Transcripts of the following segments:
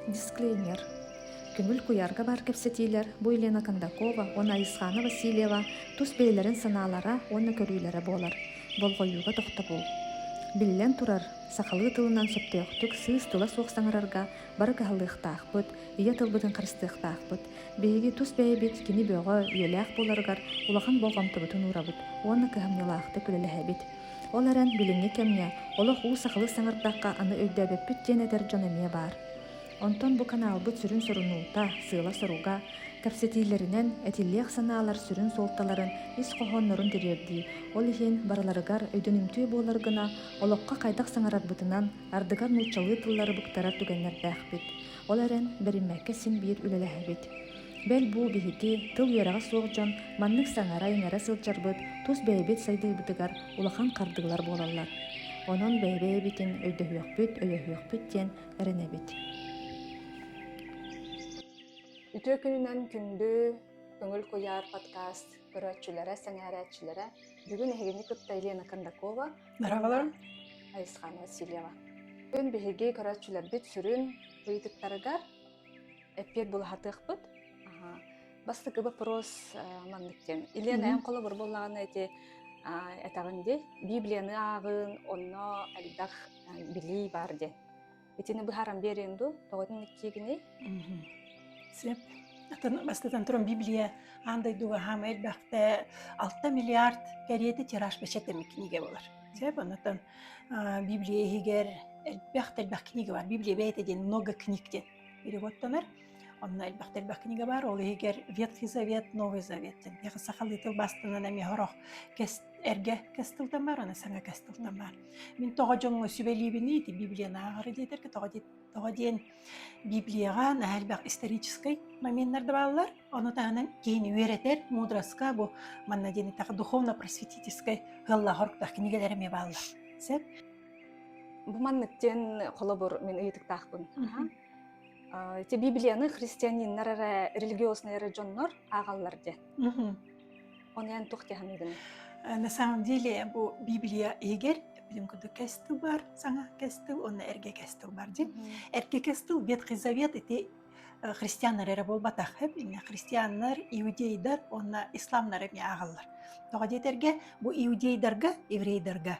Дисклеймер Көҥүл куйаарга баар кэпсэтиилэр бу Елена Кондакова уонна Айысхаана Васильева тус бэйэлэрин санаалара уонна көрүүлэрэ буолар. Болҕойууга тохтобул. Биллэн турар, сахалыы тылынан сөптөөхтүк сыыс тула суох саҥарарга бары кыһаллыахтаахпыт, ийэ тылбытын харыстыахтаахпыт. Биһиги тус бэйэбит кини бөҕө, үйэлээх буоларыгар улахан болҕомтобутун уурабыт уонна кыһамньылаахтык үлэлэһэбит. Ол эрэн, билиҥҥи кэмҥэ олох уу сахалыы саҥардахха аны өйдөөбөппүт диэн этэр дьон эмиэ баар. Онтон бу каналбыт сүрүн сорунуута, сыала-соруга, кэпсэтиилэринэн этиллиэх санаалар сүрүн суолталарын ис хоһооннорун тириэрдии, ол иһин барыларыгар өйдөнүмтүө буолар гына олоххо хайдах саҥарарбытынан Ардыгар нууччалыы тыллары быктарар түгэннэрдээхпит. Ол эрэн, бэриммэккэ син-биир үлэлэһэбит. Бэл бу биһики, тыл үөрэҕэ суох дьон, маннык саҥара-иҥэрэ сылдьарбыт тус бэйэбит сайдыыбытыгар улахан хардыылар буолаллар. Онон бэйэ-бэйэбитин өйдөһүөхпүт, өйөһүөхпүт диэн эрэнэбит. Үтүө күнүнэн күндү Көҥүл куйаар подкаст көрөөччүлэрэ, сэҥээрээччилэрэ, бүгүн эһигини кытта Елена Кондакова, Merhabalar. Айысхана Васильева. Бүгүн биһиги көрөөччүлэрбит сүрүн ыйытыктарыгар эппиэт булахатыахпыт. Бастакы вопрос маннык диэн. Илиэн эн холобур буллаҕына эти этаҕын дей Библияны ааҕын, онно элбэх билии бар диэн. итини быһааран биэриэн дуу тоҕотун иккиигиний сөп бастатан туран библия аан дойдуга хаама элбэхтэ алта миллиард кэриэти тираж бэчэт эмэ кинигэ болар сөп онотон библия иһигэр элбэх элбэх книга бар библия бэйэтэ диэн много книг диэн переводтанар Онно элбэхтэ элбэх кинигэ баар, ол иһигэр «Ветхий завет», «Новый завет». Эһиэхэ сахалыы тыл бастыынан эмиэ сорох кэс эргэ кэс тылтан баар, уонна саҥа кэс тылтан баар. Мин тоҕо дьоҥҥо сүбэлиибиний ити Библияны ааҕары диэтэргэ, тоҕо дии тоҕо диэн Библияҕа наһаа элбэх историческай моменнар да бааллар. Ону таһынан киһини үөрэтэр мудроска бу манна диэни так духовно-просветительскай сыаллаах-соруктаах кинигэлэр эмиэ бааллар. Сөп? Бу маннык диэн холобур мин ыйытыктаахпын. Мгм. ити библияны христианиннар эрэ религиознай эрэ дьоннор аагаллар диэн оны эн тух диһаныгын на самом деле бу библия иһигэр бүгүн курдук кестил бар саҥа кестил онно эрге кестил бар дин эрге кестил ветхий завет ити христианнар эрэ буолбатах инge христианнар иудейдар онна исламнар эмне аагаллар тоҕо диэтерге бу иудейдарга еврейдарга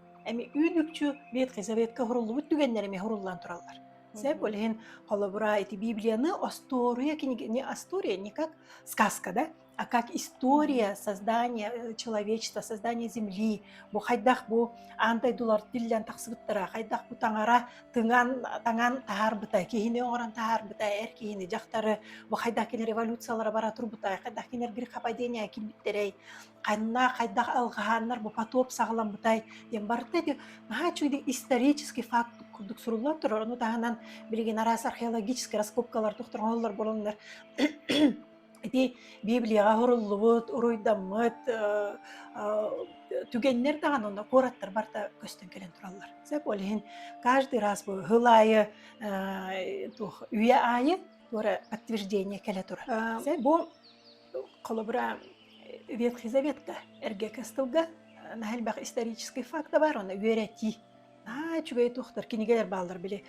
Эми үүн-үкчү веткизаветка хуруллубут түгэннэр эми хуруллан тураллар. Сэп ол иһин холобура ити Библияны остуоруя книги не остуория, не как сказка, да, а как история создания человечества, создания Земли. Бу хайдах бу аан дойдулар тиллэн тахсыбыттара, хайдах бу таҥара тыҥан таҥан таһаарбыта, киһини оҥорон таһаарбыта, эр киһини, дьахтары, бу хайдах кинэ революциялара бара турбута, хайдах кинилэр грехопадения килбиттэрэй. ханна, хайдах алҕаһааннар бу потоп саҕаламмытай диэн барыта ити наһаа үчүгэй исторический факт курдук суруллан турар. Ону таһынан билигин араас археологическай раскопкалар тохтор оһоллор буоланнар ити Библияҕа суруллубут, уруйдаммыт түгэннэр даҕаны онно куораттар барта көстөн кэлэн тураллар. Сөп, ол иһин каждый раз бу һыл аайы туох үйэ аайы туора подтверждение кэлэ турар. Бу Холобура, Ветхий Заветка эргекес тылга мәһэлбэх исторический факт бар, оны үөрэтии. Аа, үчүгэй туохтар кинигэлэр бааллар били.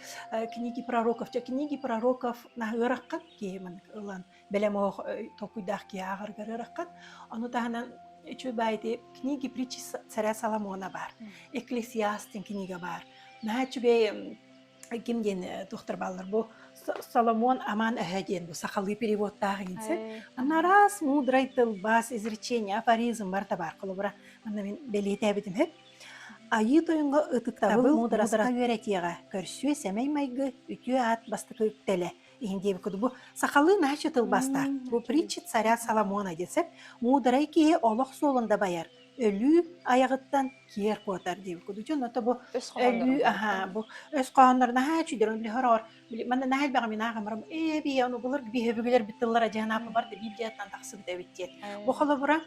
Книги пророков, ча книги пророков наһыыраққат киһимин ылан бэлэм оһох толкуйдаах киһи ааҕаргар ыраққат. Ону таһынан үчү баайты книги притчи царя Соломона бар. Экклесиастын книга бар. Наһаа үчүгэй ким диэн туохтар бааллар бу Соломон Аман Эһэ диэн бу сахалыы переводтаах иницen она раз мудрай тылбас изречение афоризм барта бар холобура манна мен бэлиэтээбитим үһү айыы тойонго ытыктабыл мудраска үөрэтиэҕэ көрсүө сэмэй майгы үтүө аат бастакы үктэлэ иһин диэбит куду бу сахалыы наача тылбастаах бу притча царя Соломона десеп мудрай киһи олох суолун да байар өлүү айаҕыттан киэр куотар диэбит кудучун ото бу өлүү аһаа бу өс хоһооннор наһаа чүдөрүн лөһөрөөр манна наһаа элбэҕи минаах амарам ээ бии ону булар биһэбүгүлэрбит тыллара дьаһанаапа бар библияттан тахсыбыт эбит диэт бу холобура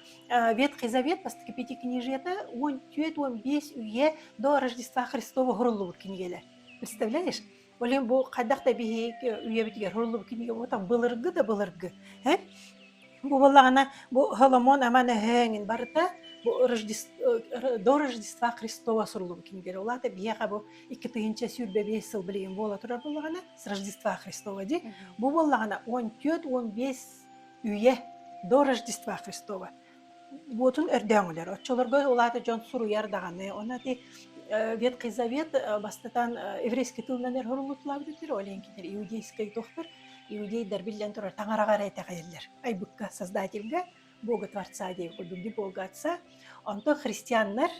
ветхий завет бастакы пяти княжета он түөрт он бес үйэ до рождества христова хуруллубут кинигэлэр представляешь Блин, бу хайдах да биһик үйэбитигэр суруллубут кинигэ буотан былыргы да былыргы. Һэ? Бу буоллаҕына бу Холомон аман эһэҥин барыта бу до Рождества Христова суруллубут кинигэлэр. Улаата биһиэхэ бу икки тыһыынча сүүрбэ биэс сыл билигин буола турар буоллаҕына с Рождества Христова дии. Бу буоллаҕына он төрт он бес үйэ до Рождества Христова буотун өрдөөҥүлэр. Оччолорго ол аата дьон суруйар даҕаны. Ону ити Ветхий бастатан еврейский тылынан эр хоруллутулаабыт өттүр, ол иҥкилэр иудейскай туохтар, иудейдар биллэн турар таҥараҕа эрэ итэҕэйэллэр. Айбыкка создательга, Бога Творца диэн курдук Бога Отца. Онто христианнар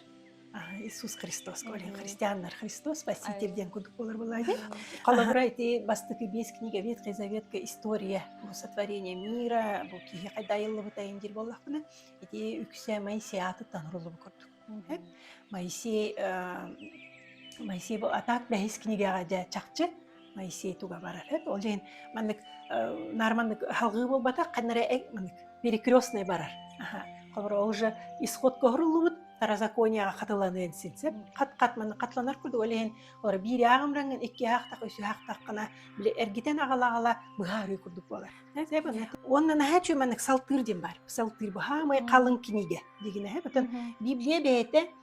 Иисус Христос говорим христианнар Христос спаситель диэн курдук буолар буолаайы холобура ити бастакы биэс книга Ветхий Заветка история бу сотворение мира бу киһи хайда айыллыбыт айын дир боллахпына ити үксэ Моисеаты танырылыбы курдук Моисей Моисей бу атаак бэһис книгаға жа чакчы Моисей туга барар эт ол иһин маннык наар маннык аһылҕыы буолбатах ханна эрэ маннык перекрестный барар холобура ол же исход көһүрүллүбүт старозаконияға хатыланыан син сеп хат хат маны хатыланар курдук ол иһин олар биир ааҕымраҥын икки аахтах үс аахтаххына били эргитэн аҕала аҕала быһаарыы курдук буолар уонна наһаа үчүгэй маннык салтыыр диэн баар салтыыр быһаамай қалың кинигэ дигинэһэ бүтүн библия бэйэтэ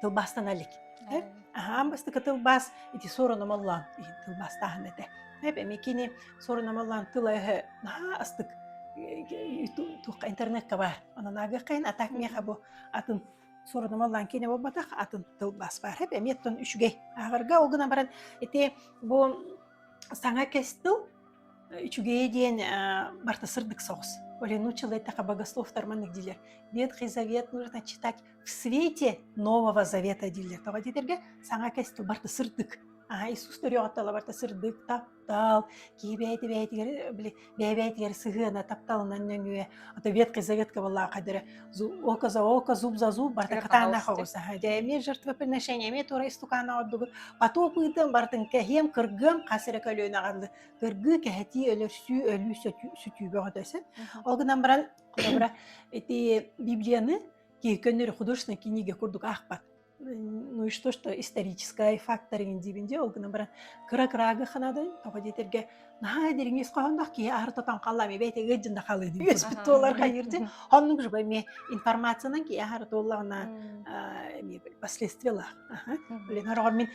тылбаастана илик. Аһаан бастакы тылбаас ити суорунамаллаан иһин тылбаастааһын этэ. Эп эми кини суорунамаллаан тыла-өһө наһаа астык туохха интернетка баар. Онон аагыаххайын атак миэхэ бу атын суорунамаллаан кини буолбатах атын тылбаас баар. Эп эмиэттэн үчүгэй. Ааҕарга ол гына баран ити бу саҥа кэс тыл үчүгэйи диэн барта сырдык соҕус. Олену человека богослов тарманнык дилер. Ветхий завет нужно читать В свете Нового Завета дииллэртэҕэ диэтэргэ саҥа кэстил барта сырдык. Аһа Иисус төрүөҕүттала барта сырдык, таптал, киһи бэйэтигэр били бэйэбэйэтигэр сыһыана тапталынан нөҥүө, ото веткая заветка была қадірі око за око, зуб за зуб барта катаана хоҕус аха дэмир жертвоприношение эмиэ туора истукаана ордугут поту пыытым бартын кэһиэм кыргыам хас эрэ көлүөнэҕалды кыргыы кэһэтии өлөрсүү өлүү сүтүүбөҕө дөсөт ол гынан баран ити библияны кииркөннөрү художественной книга курдук аахпат ну и что что историческай факториҥ диибин дии ол гынан баран кыра кыраага ханадын тоҕо диэтэргэ наһаа дириҥис хоһоонноох киһи аартатан халлаам эбэйт ыгыддын да халыы диэбиспит туолар хайыр дин хоннук живой ме информациянан киһи аһара туоллаҕына эмиэ последствия лаах блин ороҕор мин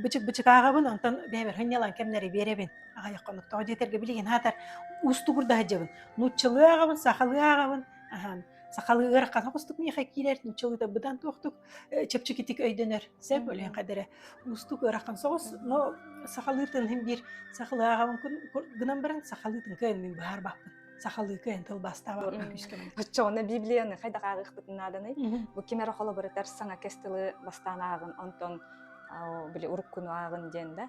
бычык бычыкаагабын онтон бэбэр хынньалан кэмнэри биэрэбин аҕайах конук тоҕо диэтэргэ билигин аатар уустугурдаһа дьабын нууччалыы ааҕабын сахалыы ааҕабын ахан Сахалыгар хаҥа кустук миэхэ киирэр, нучча быдан туохтук чэпчэкитик өйдөнөр. Сөп өлөөн кадары уустук ырахан соҕус, но сахалыы тылын бир сахалааҕын гынан баран сахалыы тынкыан мин баарбаппын. сахалыы кыйын тылбастаабаппын күүскөмөн. Ыччоҕуна Библияны хайда каарыхпытын нааданай? Бу кимер холобуратар саҥа кестылы бастаан ааҕын, онтон били уруккуну ааҕын диэн да.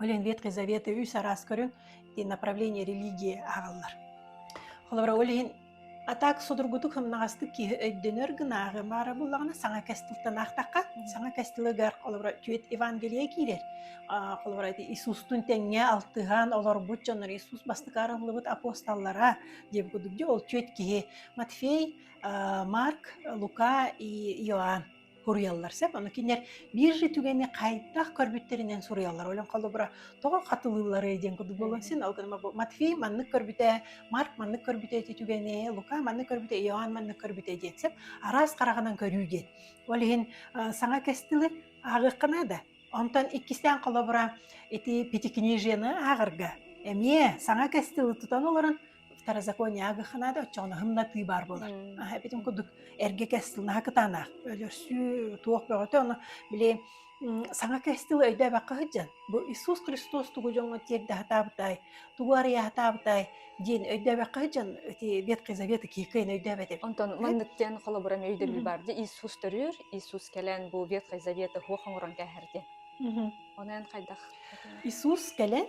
Олен Ветхой Завета үс араас көрүҥ направление религия агаллар. Холобура ол иһин атак судургутук хымнаҕастык киһи өйдөнөр гынааҕы баара буллаҕына саҥа кестылтан аахтахха саҥа кестылыгар холобура түөт Евангелие киирэр холобура Иисустун тэҥҥэ алтыһан олорбут дьоннор Иисус бастакы арыллыбыт апостоллара диэн курдук ол түөт киһи Матфей Марк Лука и Иоанн Суруйаллар сөп, ону кинилэр биир же түгэни хайдах көрбүттэринэн суруйаллар. Ойлон холобура, тоҕо хатылыылларый диэн курдук буолуон син, ол гынан Матфей маннык көрбүтэ, Марк маннык көрбүтэ ити түгэни, Лука маннык көрбүтэ, Иоанн маннык көрбүтэ диэн сөп. Араас хараҕынан көрүү диэн. Ол иһин э, саҥа кэс тылы ааҕыаххына да, онтон иккистээн холобура, ити Пятикнижиены ааҕарга эмиэ саҥа кэс тылы тутан олорон Старозаконие агыханаада оччоҕунаһымнатыы баар буолар. Аһа эбитин курдук эргэ кэстил наһа кытаанаах. Өлөрсүү туох бөҕөтө ону били саҥа кэстил өйдөөбөккө сылдьан бу Иисус Христос тугу дьоҥҥо тиэрдэ сатаабытай, тугу арыйа сатаабытай диэн өйдөөбөккө сылдьан эти Ветхий Завет киэкэйин өйдөөбөт эбит. Онтон маннык диэн холобурам өйдөбүл баар дии. Иисус төрүүр, Иисус кэлэн бу Ветхий Заветы хуох оҥорон кээһэр диэн. Ону эн хайдах Иисус кэлэн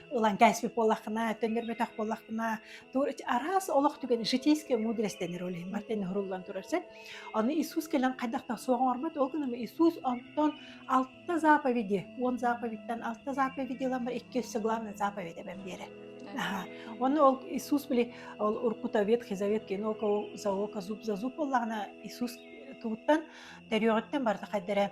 ылан кээспит буоллаххына, төннөрбөтөх буоллаххына, араас олох түгэн житейская мудрость дэнэр ол иһин бартын һуруллан турар сен. Аны Иисус кэлэн хайдах да суох оҥорбот, ол гынан Иисус онтон алта заповеди, он заповедтен алта заповеди ламар иккис главная заповедь эбэм биэрэ. Аха. Оны ол Иисус били ол уркута Ветхий Завет кин ол за око зуб за зуб боллаана Иисус тугуттан төрүөҕүттэн барыта хайдара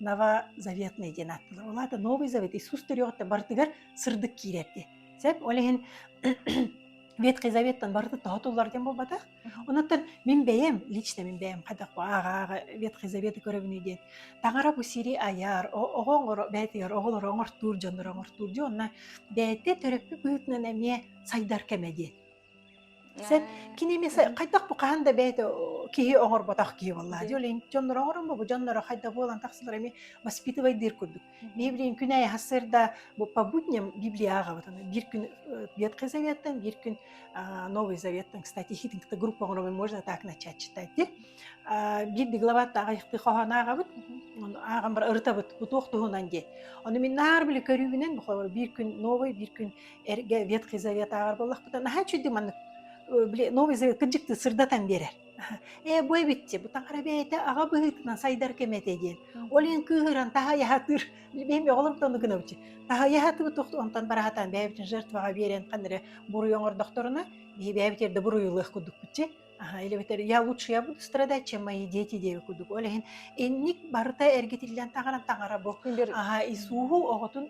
новозаветный диэн ааттанар. Ол аата Новый Завет Иисус төрүөҕүттэн барытыгар сырдык киирэр дии. Сөп, ол иһин Ветхий Заветтан барыта тоһутуллар диэн буолбатах. Онон мин бэйэм, лично мин бэйэм хайдах бу ааҕа Ветхий Заветы көрөбүнүй диэн таҥара бу сири айар, оҕо оҥоро бэйэтигэр оҕолору оҥортуур дьоннору оҥортуур диэн онно бэйэтэ төрөппүт быһыытынан эмиэ сайдар кэмэ диэн. Сен кини эмиэ хайдах бу хаһан да бэйэтэ киһи оҥорботох киһи буолла. Дьэ ол иһин дьонноро оҥорон бу дьонноро хайда буолан тахсалар эмиэ воспитывайдыыр курдук. Мен билигин күн айы хасырда бу по будням Библияҕа вот аны биир күн Ветхий Заветтан биир күн Новый Заветтан кстати хитин кытта группа оҥороруй можно так начать читать дир биирди главата айыхты хоһоон аагабыт ааҕан бар ырытабыт бу туох туһунан диэн ону мин наар били көрүүбүнэн биир күн новый биир күн эргэ ветхий завет ааҕар буоллахпытына наһаа үчүгэй маннык били новый завет кырдьыктыы сырдатан биэрэр ээ бу эбитчи бу таҥара бэйэтэ аҕа быһыытынан сайдар кэмэтэ диэн ол иһин кыыһыран таһаайа сатыыр бэйэм оҕолорум тону гынабыччы таһаайа сатыбыт онтон бара сатаан бэйэбитин жертваҕа биэрэн ханна эрэ буруй оҥордохторуна биһи бэйэбитигэр да буруйулуох курдукпутчи аха илэбитэр я лучше я буду страдать чем мои дети диэбит курдук ол иһин инник барыта эргитиллэн таҥаран таҥара бу аха исуһу оҕотун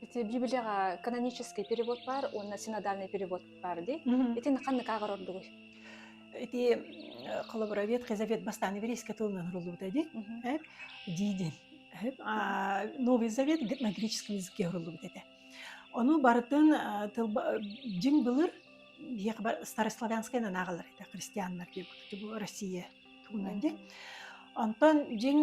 Ити Библияҕа канонический перевод баар уонна синодальный перевод баар дии. Итин ханнык ааҕар ордугуй? Ити холобуровед Хизавет бастаан еврейскэ тылынан рулута ди. Дидин. Новый Завет на греческом языке рулута это. Ону барытын тылба дин былыр старославянскай аагалар это христианнар диэбит Россия тугунан ди. Онтон дин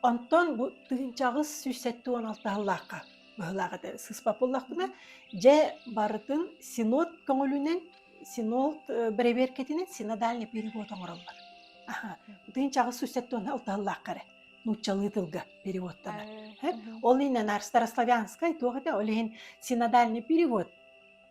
Онтон бу тыынчаҕыс сүүс сэттэ уон алтаһыллаахха быһылаах этэ сыспап буллахпына, дьэ барытын синод көҥүлүнэн, синод бэрэбиэркэтинэн синодальный перевод оҥороллор. Тыынчаҕыс сүүс сэттэ уон алтаһыллаахха эрэ нууччалыы тылга переводтанар. Ол иһин старославянскай туох этэ, ол иһин синодальный перевод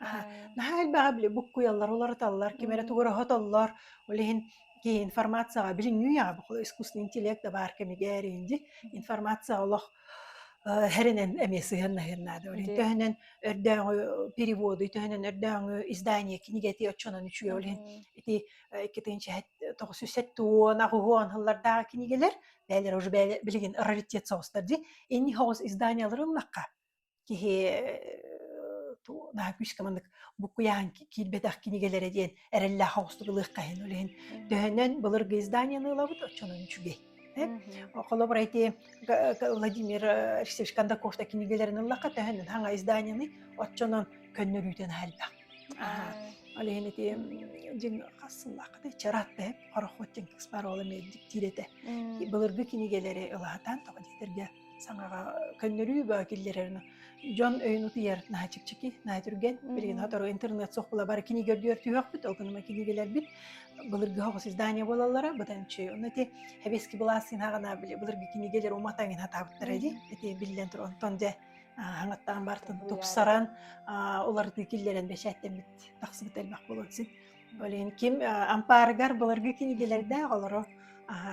Аһа, наһаа элбэҕи били буккуйаллар, уларыталлар, ким эрэ тугураһотоллор. Ол иһин киһи информацияҕа билиҥҥи үйэҕэ искусственный интеллект да баар кэмигэр indi информация олох эрэнэн эмиэ сыһыаннаһыан наада. Ол иһин Ди төһөнөн өрдөөҕү переводу, төһөнөн өрдөөҕү издание книгэтии оччонон үчүгэй. Ол иһин Мм. ити сыллардағы кинигэлэр бээлэр уже бээлэ билигин раритет соҕустар ди инни соҕус изданиелар ылынахха киһи наһаа күүскэ маннык букуйаан киирбэтэх кинигэлэрэ диэн эрэллээх оҕустук ылыахха иһин үлэһин төһөнөн былыргы издание ылабыт оччонон үчүгэй холобура ити Владимир Алексеевич Кондаков да кинигэлэрин ыллахха төһөнөн хаҥа изданиены оччонон көннөрүүтэн аһарбах ол иһин ити дьиҥ хасыллааххытай чараат да хорохот дьиҥ кыспар ол эмиэ диктиир этэ былыргы кинигэлэри ылаһатаан тоҕо диэтэргэ саҥаҕа көннөрүү баа киллэрэр дьон өйүн утуйар наһаа чикчики наһаа түргэн билигин сотору интернет суох була бары кинигэ үрдүгэр түһүөхпүт ол күнүмэ кинигэлэрбит былыргыһа оҕус издание буолаллара бытанчы онно ити хэбиэски былаассыын һаҕана били былыргы кинигэлэр уматаҥин хатаабыттара ди эти биллэн тур онтон дьэ хаҥаттаан бартын тупсаран уларытыы киллэрэн бэчээттэммит тахсыбыт элбэх буолуон син олин ким ампаарыгар былыргы кинигэлэрдээх олоро аха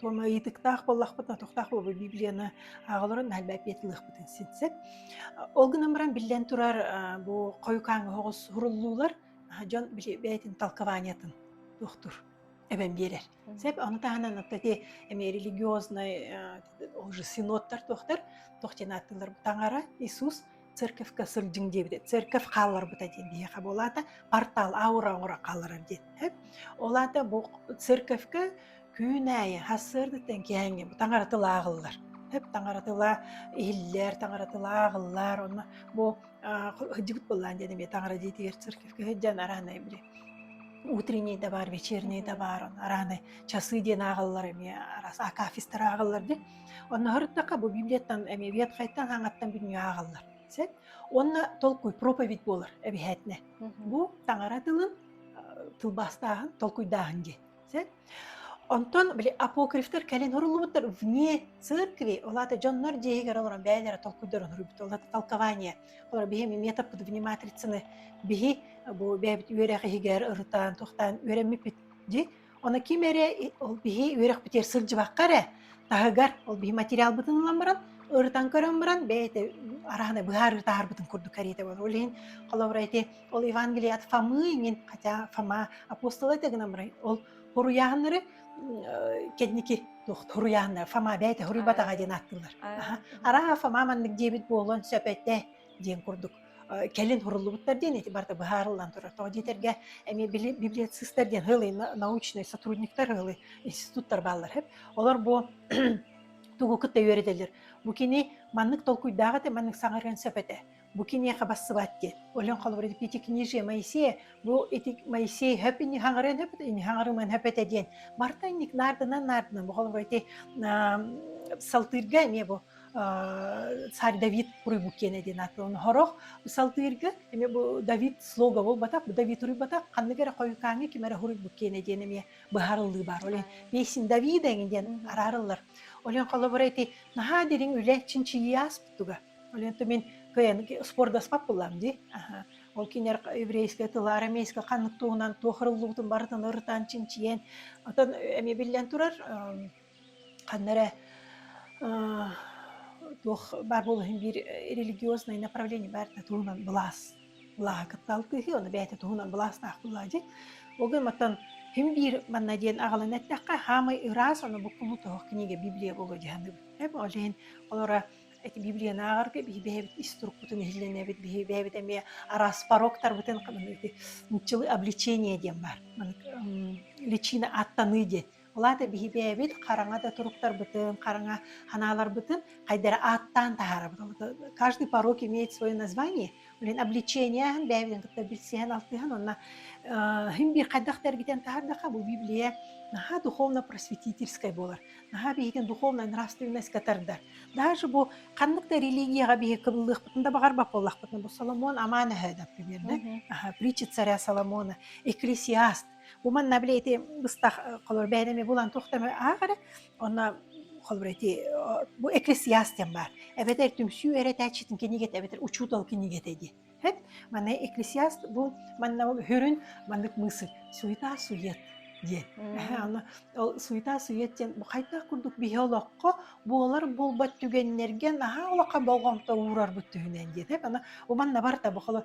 Туома ыйытыктаах буоллахпытына, тохтоох буолбут библияны ааҕалорун эһэрбээппиэт ылыахпытын син сөп. Ол гынан баран, биллэн турар, а, бу хойукааҥҥа оҕус суруллуулар аһа дьон били бэйэтин толкованиетын туохтуур эбэн биэрэр. Сөп, ону таһынан вот эти эмиэ религиознай, а, уже синоттар туохтар туох диэн ааттыыллар, таҥара, Иисус церковька сылдьыҥ диэбитэ церковь хаалларбыта диэн биһиэхэ буолаата портал аура оҥоро хаалларар диэттэ ол аата бу церковька күн аайы сарсыардаттан кээҥҥэ бу таҥаратылааҕыллар тэп таҥаратыла иһиллэр таҥаратылааҕыллар онно бу сылдьыбыт буоллаан диэн эмиэ таҥара дьиэтигэр церковька сылдьан араанай били утренней да бар вечерней да бар араанай часы диэн ааҕыллар эмиэ араас акафистар ааҕыллар дии Онно сырыттахха бу библияттан, эмиэбиэт хайтан хаҥаттан бүнньүө ааҕаллар. Сэт уонна толкуй проповедь буолар эбиһээтинэ. Мгм. Бу таҥара тылын э, тылбаастааһын, толкуйдааһын диэн. Сэт онтон били апокрифтар кэлин суруллубуттар вне церкви, ол аата дьоннор дьиэһигэр олорон бэйэлэрэ толкуйдарын суруйбуттар. Ол аата толкование. Олор биһи метаппытыбыны матрицаны биһи бу бэйэбит үөрэх иһигэр ырытан, тохтаан үөрэммиппит дии Оны ким эрэ ол биһи үөрөхпүтүгэр сылдьыбакка эрэ таһыгар ол биһи материалбытын ылан баран ырытан көрөн баран бэйэтэ араһана быһаарыы таһаарбытын курдук кэриэтэ буолар. Ол иһин холобура ити ол Евангелие от Фомы иҥин хотя Фома апостола это гынан барай ол хоруйааһыннары кэнники хоруйааһыннар Фома бэйэтэ хоруйбатаҕа диэн ааттыыллар. Араа Фома маннык диэбит буолуон сөп этэ диэн курдук кэлин суруллубуттар диэн эти барыта быһаарыллан турар тоҕо диэтэргэ эмиэ били библиоцистар диэн ыһылый научнай сотрудниктар ыһылый институттар бааллар үһү олор бу тугу кытта үөрэтэллэр бу кини маннык толкуйдаах этэ маннык саҥарыан сөп этэ бу киниэхэ бассыбат диэн олен холобур эти книжия моисея бу эти моисей хөп ини хаҥарыан хөп ини хаҥарыман хөп этэ диэн барта инник наардынан наардынан бу холобур эти салтыырга эмиэ бу царь Давид уруйбут киэнэ диэн аатылан хорох салдыырга эмиэ бу Давид слога буолбатах бу Давид уруйбатах ханнык эрэ хойукааҥҥа ким эрэ хоруйбут киэнэ диэн эмиэ быһаарыллыы баар олен песин Давида эҥин диэн араарыллар олен холобура ити наһаа дириҥ үлэ чинчийии ааспыттуга олен то мин кыйан спордаспат буллам ди ол кинер еврейская тыла арамейская ханнык туһунан туох ырыллыбытын барытын ырытан чинчийэн оттон эмиэ биллэн турар ханна эрэ туох баар буолуоһун биир религиознай направление баар да туһунан былаас былааһа кыттаал кыыһыы ону бэйэтэ туһунан былаастаах буолуо дьик ол гын маттан ким биир манна диэн аҕалан эттэххэ хаамай ыраас ону буккулу тоох книга библия болу дьаһаныбыт эм ол иһин олора эти библияны аагарга биһи бэйэбит ис турукпутун иһиллэнэбит биһи бэйэбит эмиэ араас пороктарбытын хабаныыты нчылы обличение диэн баар личина аттаныы диэн Ол аата биһибээбит хараҥа да туруктарбытын, хараҥа ханааларбытын хайдара ааттаан таһаарабыт. Каждый порог имеет свое название. Блин, обличение аhan бэйэбитин кытта билсиһэн-алтыһан онно хин биир хайдах да эргитэн таһаардахха бу Библия наһаа духовно-просветительскай буолар. Наһаа биһигин духовная нравственноска тардар. Даже бу ханнык да религияҕа биһи кыбыллыахпытын да баҕарбат буоллахпытына бу Соломон амаан өһө, например, притча царя Соломона, экклесиаст Бу манна били ити ыстах э, холор бэйэни эми булан туох да ааҕары онно холбур эти бу эккрессиас диэн баар эбэтэр түмсүү эрэтээччитин кинигете эбэтэр учутал кинигете ди хэт маны эккрессиас бу манна хөрүн маннык мысы суета сует диэн ол суета сует диэн бу хайдах курдук биһи олоххо буолар буолбат түгэннерген аһаа олоххо болҕомто уурарбыт түһүнэн диэт бу манна барта бу холо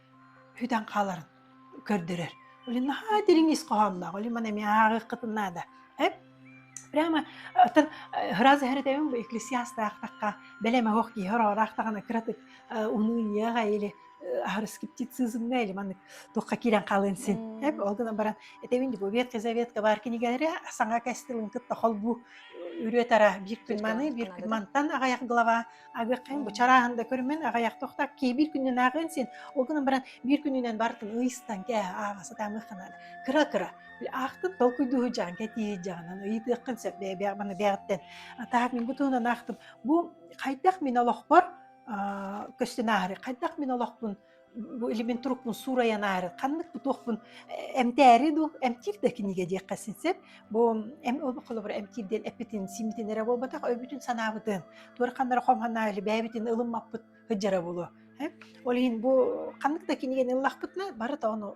Хүтэн хааларын көрдөрөр. Блин, наһаа дириҥ ис хоһоонноох. Блин, маны эмиэ ааҕыаххытын наада. Эп прямо оттон ыраас эһэртэбин бу экклесиастаахтахха бэлэме ох киһи ороораахтаҕына кыратык унууньыаҕа или аһарыскептицизмҥа или маннык туохха киирэн хаалыан син эп ол гынан баран этэбин бу ветки заветка бар кинигэлэри саҥа кэстилин кытта холбуу үрүө тара биир күн маны биир күн мантан аҕайах глава Абеккаң бычарааһын да көрүмэн аҕайах тохтак киибир күннен ааҕыан син ол гынан баран биир күнүнэн бартын ыйыстан кэ ааҕа сатаамых ханаат кыра кыра аахтын толкуйдуһу жаан кэтии жаанан ыйытыаххын сөп бэйэ маны бэҕэттэн атаак мин бу туһунан аахтым бу хайдах мин олохпор көстөн ааһары хайдах мин олохпун бу или мин турукпун суурайан аары ханнык туохпун эмтээри дуу эмтиир да кинигэ диэххэ сөп бу эм ол холобура эмтиир диэн эппитин симмитин эрэ буолбатах өйбүтүн санаабытын туора ханнара хомханаа или бэйэбитин ылыммаппыт сыдьара буолуо ол иһин бу ханнык да кинигэни ыллахпытына барыта ону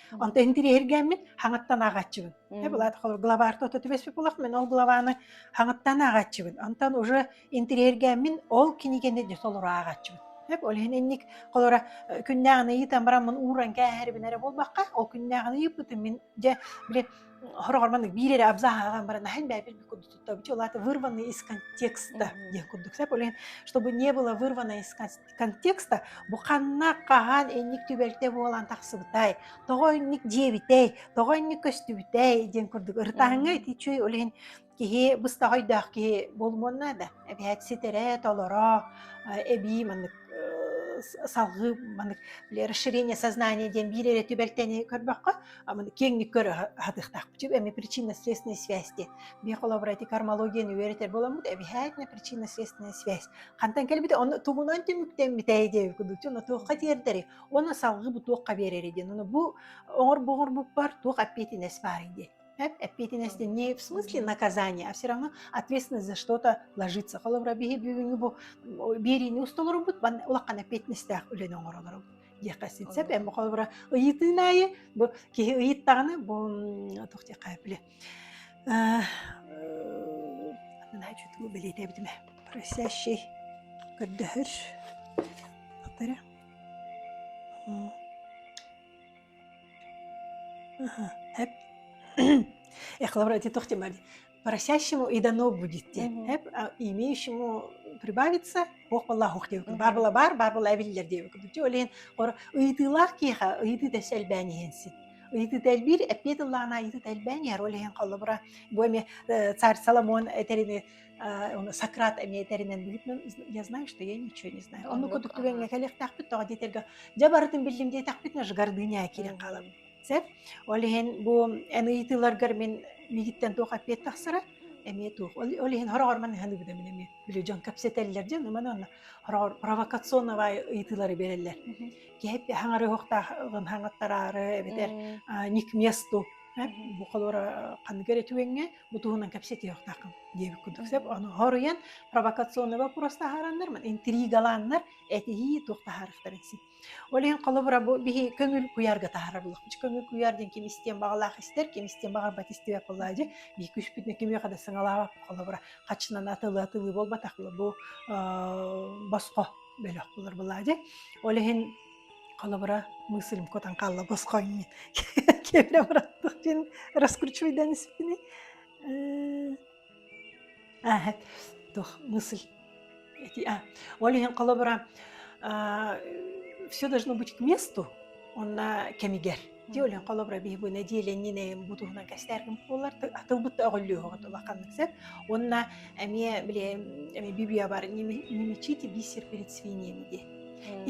Онтон интириэһиргээммин хаҥаттан ааҕааччыбын. Э, Мм. былаата холобур главарта ото түбэспит булах, мин ол главаны хаҥаттан ааҕааччыбын. Онтон уже интириэһиргээммин ол кинигэни дьэ толору ааҕааччыбын. Эп ол иһин инник холобура э, күннээҕин ыйытан баран мун ууран кээһэрибин эрэ буолбакка, ол күннээҕин ыйыппытым мин дьэ, блин, хороҕор маннык биир эрэ абзаҕ ааҕан баран аһын бээбит курдук человека вырванный из контекста диэн курдук чтобы не было вырвано из контекста бу ханна хаһан инник түбэлтэ буолан тахсыбытай тоҕо инник диэбитэй тоҕо инник көстүбүтэй диэн курдук ырытааҥҥа ити үчүй олен киһи быстаҕойдоох киһи болмуонна да эбиһэт ситэрэ толоро эбии маннык салгыы маннык расширение сознания диэн биир эрэ түбэлтэни көрбөххө киэҥник көрө сатыахтаахпыт сөп эми причинно-следственной связьти биһиэхэ холобура ити кармологияны үөрэтэр боламмут эбиһээтинэ причинно-следственная связь хантан кэлбите онно тугунан түмүктэммит эйдиэби кудучу оно туохха тиэрдэри оно салгыбы туохха биэрэри диэн оно бу оҥорбу оҥорбуппар туох оппетинес бар диэн оппетинес не в смысле наказания а все равно ответственность за что-то ложится холобура биһи бүгүнгү бу биэриини устолорубут улахан оппетинестээх үлэни оҥоролорубут диэххэ син сөп эм холобура ыйытыын аайы бу киһи ыйыттаҕына бу туох диэххэ били наһаа чутугу бэлиэтээбитим просящий көрдөһөр тахтара эп эхлавр эти тох тимари просящему и дано будет диэн имеющему прибавится ох боллаах диэбиккин бар була бар бар була эбиллер диэбиккин ол иһин ыйытыылаах киэхэ ыйытыы да сэлбээн иһэн син ыйытыыта элбиир эппиэт ыллаана ыйытыыта элбээн иһэр ол иһин холобура бу эми царь соломон этэрини сократ эми этэринэн билипмин я знаю что я ничего не знаю онну курдук түгэҥҥэ кэлиэхтээхпит тоҕо диэтэргэ дьэ барытын биллим диэтэхпитинэ ж гордыня киирэн хаалабын Сөп. Ол иһин бу эн ыйытыыларгар мин миигиттэн туох эппиэт тахсара эмиэ туох. Ол ол иһин хороҕор манна саһыныбытым мин эмиэ. Били дьон кэпсэтэллэр дьон маны онно хороҕор провокационнай ыйытыылары биэрэллэр. Мгм. Киһи эп хаҥарыһыахтааҕын хаҥаттараары эбэтэр М. а, не к месту эп Мгм. бу холуора ханныгар этиэҥҥэ бу туһунан кэпсэтиэхтааххын диэбит курдук. Сөп. Мгм. Ону хоруйан провокационнай боппуруос таһаараннар, интригалааннар этиһии туох таһаарыахтарын син. Ол иһин холобура бу биһи көҥүл куйаарга таһаарабыллах. Дьэ көҥүл куйаар диэн ким истиэн баҕалаах истэр, ким истиэн баҕарбат истибэт буоллаҕа дьэ, биһи күүспүтүнэн кимиэхэ да сыҥалаабаппыт холобура. Хаччынан атылыы-атылыы буолбатахпына бу ыыы босхо бөлөх булар буоллаҕа дьэ. Ол иһин холобура мыслим кутан хаалла босхо иннин киэбирэ быраттык диэн раскручивайдан испитинэй Эһэк, туох мысль эти, а, ол иһин холобура, а, все должно быть к месту онно кэмигэр. Ти олен холобура биһиги нэдиэлэннинэйин бу туһунан кэстээргим буолар атылбыт да оголлюоҕут улаханнык сет онна эмиэ били эми бибиабар немечите бисер перед свиньями диэ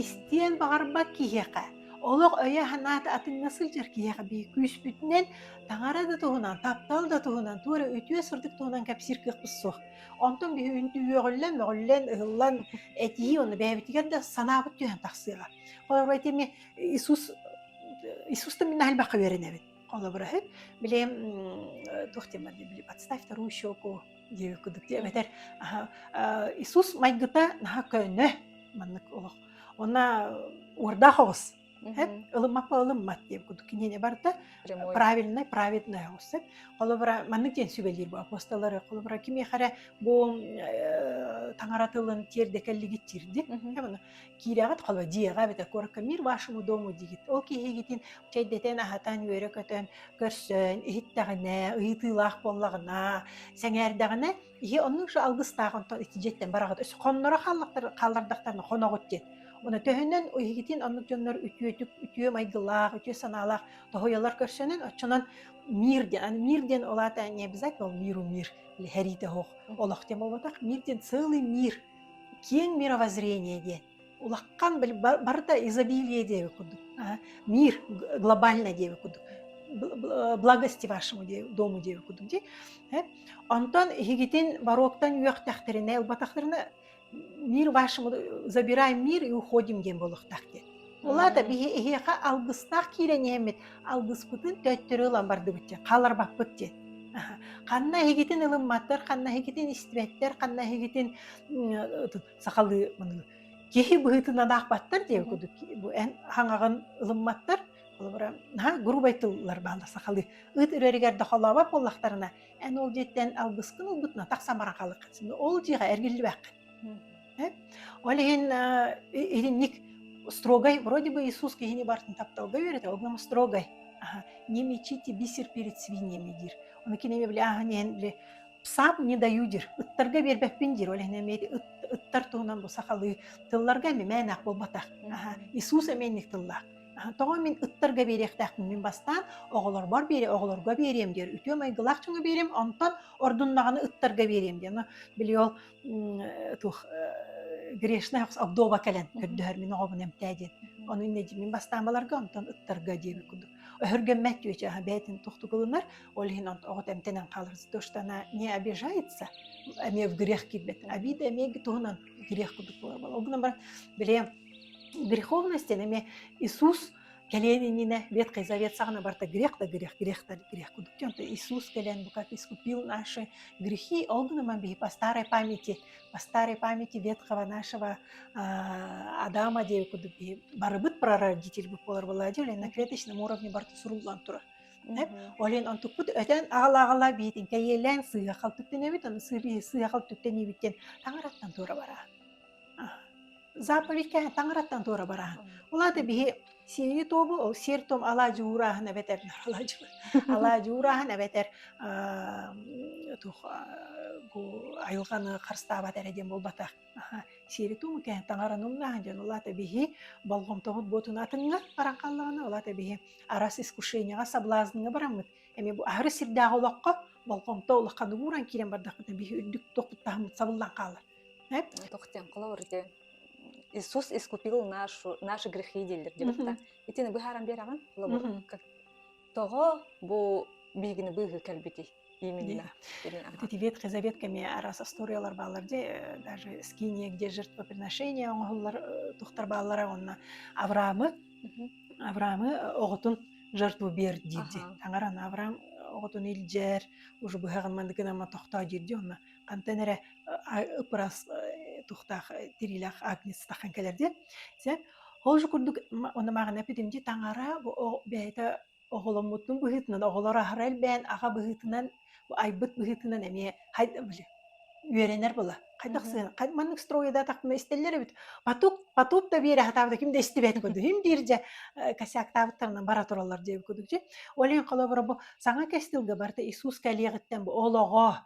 истиэн баҕарбат киһиэхэ олох өйө санаата атыҥҥа сылдьар киһиэхэ бии күүспүтүнэн Таҥара да туһунан, таптал да туһунан, туох эрэ үтүө сырдык туһунан кэпсиир кыахпыт суох. Онтон биһи үөҕүллэн, мөҕүллэн, ыһыллан этии уонна бэйэбитигэр да санаабыт түһэн тахсыаҕа. Холобура, ити эмиэ Иисус Иисуста мин наһаа элбэххэ үөрэнэбин. Холобура үһү, били туох диэн барды, били «Подставь вторую щеку девять кудык» диэн эбэтэр Иисус майгыта наһаа көнө маннык олох. Уонна уордаах оҕус эт ылыммаппа ылыммат диэн курдук кинини барыта правильнай праведная устеп холобура маннык диэн сүбэлиир бу апостоллары холобура кимиэхэ эрэ бу таҥара тылын тиэрдэкэллигит тирдит оны киирэҕит холо дьиэҕэ эбэтэ куоракка мир вашему дому дигит ол киһигитин чэйдэтэн аһатан үөрэ көтөн көрсөн иһиттэҕинэ ыйытыылаах буоллаҕына сэҥээрдэҕинэ Ийэ оннук же алгыстаах онтон ити дьиэттэн бараҕыт өс хонноро хааллахтар хааллардахтарына хоноҕут диэн. Оны төһөнөн иһигитин оннук дьоннор үтүөтүк, үтүө майгылаах, үтүө санаалаах тоһуйалар көрсөнөн отчунан мир диэн аны мир диэн ол аата не обязательно ол миру мир или хэрийдэ оһох олох тем болботох мир диэн целый мир киэҥ мировоззрение диэн Улахан бил барыта изобилие диэби курдук мир глобальный диэби курдук благости вашему диэби дому диэби курдук дии онтон иһигитин бароктан үөхтэхтэринэ ылбатахтарына мир вашему забираем мир и уходим диэн буолуохтаах диэн улаата биһи эһиэхэ алгыстаах киирэн иһэммит алгыспытын төттөрү ылан бардыбыт диэн хааларбаппыт диэн ханна иһигитин ылымматтар ханна иһигитин истибэттэр ханна иһигитин сахалыы киһи быһыытын анаахпаттар диэ кудук бу эн хаҥаҕын ылымматтар холобура грубай тыллар бааллар сахалыы ыт үрэригэр да холообот буоллахтарына эн ол дьиэттэн алгыскын ылбытына тахсамара халык ол дьиэҕэ эргиллибэххин ол иһин итинник строгай вроде бы Иисус киһини бартын тапталга үөрэтэ ол гынан строгай не мечите бисер перед свиньями диир оны кинеми били ахан иһин били Саап не даю диир. Ыттарга биэрбэппин диир. Ол иһин эмиэ ити ыт ыттар туһунан бу сахалыы тылларга эмиэ мээнээх буолбатах. Аһа, Мгм. Иисус эмиэнник тыллаах. Аһа, тоҕо мин ыттарга биэриэхтээхпин мин бастаан оҕолорбор биэриэм, оҕолорго биэриэм диир. Үтүө майгылаах дьону биэриэм, онтон ордуннаҕына ыттарга биэриэм диэн. Но били ол м, э, туох э, грешная охс- обдоба кэлэн Мгм. көрдөһөр мин оҕобун эмтээ диэн. Мгм. Ону иннэ дии мин бастаан баларга, онтон ыттарга диэбит курдук. Өһүргэммэт түөчэ аһа бэйэтин тохтугулунар, ол иһин оҕот эмтэнэн хаалар то что она не обижается эмиэ в грех киирбэт обида эмиэ туһунан грех курдук буолар ол гынан баран бile греховность эмиэ Иисус кэлиэн иннинэ Ветхий Завет саҕана барта грех да грех грех да грех курдук диэн Иисус кэлэн бу как искупил наши грехи ол гынан баран биһи по старой памяти по старой памяти ветхого нашего Адама диэбит курдук биһи барыбыт прародитель буолар буолар диэн на клеточном уровне барта суруллан турар Олен онтукпут өтөн аала-аала биитин кэйиэлээн сыыхал түптэнэбит, аны сыыхал түптэниибит диэн таҥараттан туора бараан. Заповедькэ таҥараттан туора бараан. Улаата биһи сиэни тобу ол сиэр том алаадьы уурааһын эбэтэр алаадьы алаадьы уурааһын эбэтэр тух айылҕаны харыстаабат эрэ диэн буолбатах Аха, сиэри-туому кэһэн таҥараны умнааһын дьон улаата биһи болҕомтоҕут буотуну атыҥҥа баран хааллаҕына улаата биһи арас искушенияҕа соблазҥҥа бараммыт эми бу аһары сирдээх олоххо болҕомто улаххан угууран киирэн бардахпытына биһи үрдүк туохпуттаахмыт сабыллан хаалар э? тохтен холоорите Иисус искупил нашу, наши грехи дииллэр диэбитэ. Итини быһааран биэрэҕин, лобор, как Тоҕо бу биһигини быыһыы кэлбитий именно? Вот эти ветхий завет кэмиэ араас остуоруйалар бааллар дьэ даже скиния где жертвоприношение оҥоһуллар тухтар бааллара уонна Авраамы Авраамы оҕотун жертву биэр диирди таҥаран Авраам оҕотун илдьэр уже быһаҕын мандыгын ама тохтоо диирди уонна Антан эрэ ыпырас тухтаах тириилээх агнец таххан кэлэр диэн. Сэ ол же курдук оны маҕана пидимди таҥара бэйэтэ оҕоломмутун быһыытынан оҕолоро аһара элбээн аҕа быһыытынан айбыт быһыытынан эмиэ хайда били үөрэнэр була хайдах сыан маннык стройа да тахтына истэллэр эбит потук потук да биэрэ хатаабыта ким да истибэтин курдук им диирже косяктаабыттарына бара тураллар диэбит курдук олен холобура бу саҥа кестилгэ барыта Иисус кэлиэҕиттэн бу олоҕо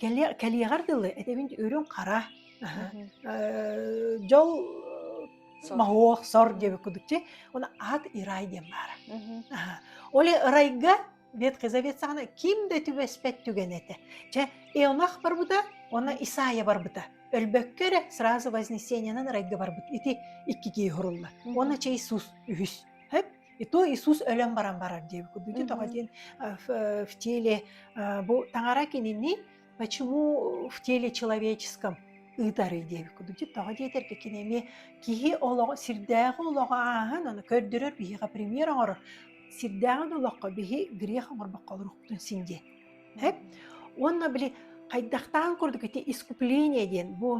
Кэлиэ кэлиэҕэр дылы этэбин үрүҥ, хара, аһа, Мгм. э, дьол, Сор. моһуок, сор диэбит курдук чэй, уонна аат и рай диэн баара. Мгм. Аһа. Ол ырайга Ветхий Завет саҕана ким да түбэспэт түгэн этэ. Чэ, Ионах барбыта уонна Мгм. Исаия барбыта. Өлбөккө эрэ сразу Вознесениенан райга барбыт. Ити икки киһи сурулла. Уонна Мгм. чэй сус үһүс. Хөп! И то Иисус өлөн баран барар диэбит курдук тоҕо Мгм. диэн э, в, э, в теле э, бу таҥара кинини почему в теле человеческом ыытарый диэбит курдук тоҕо диэтэргэ кини эмиэ киһи олоҕо сирдээҕи олоҕу ааһан аны көрдөрөр биһиэхэ пример оҥорор сирдээҕин олоххо биһи грех оҥорбокко олорохпутун син диэн Эт? Уонна били хайдахтаан курдук ити искупление диэн бу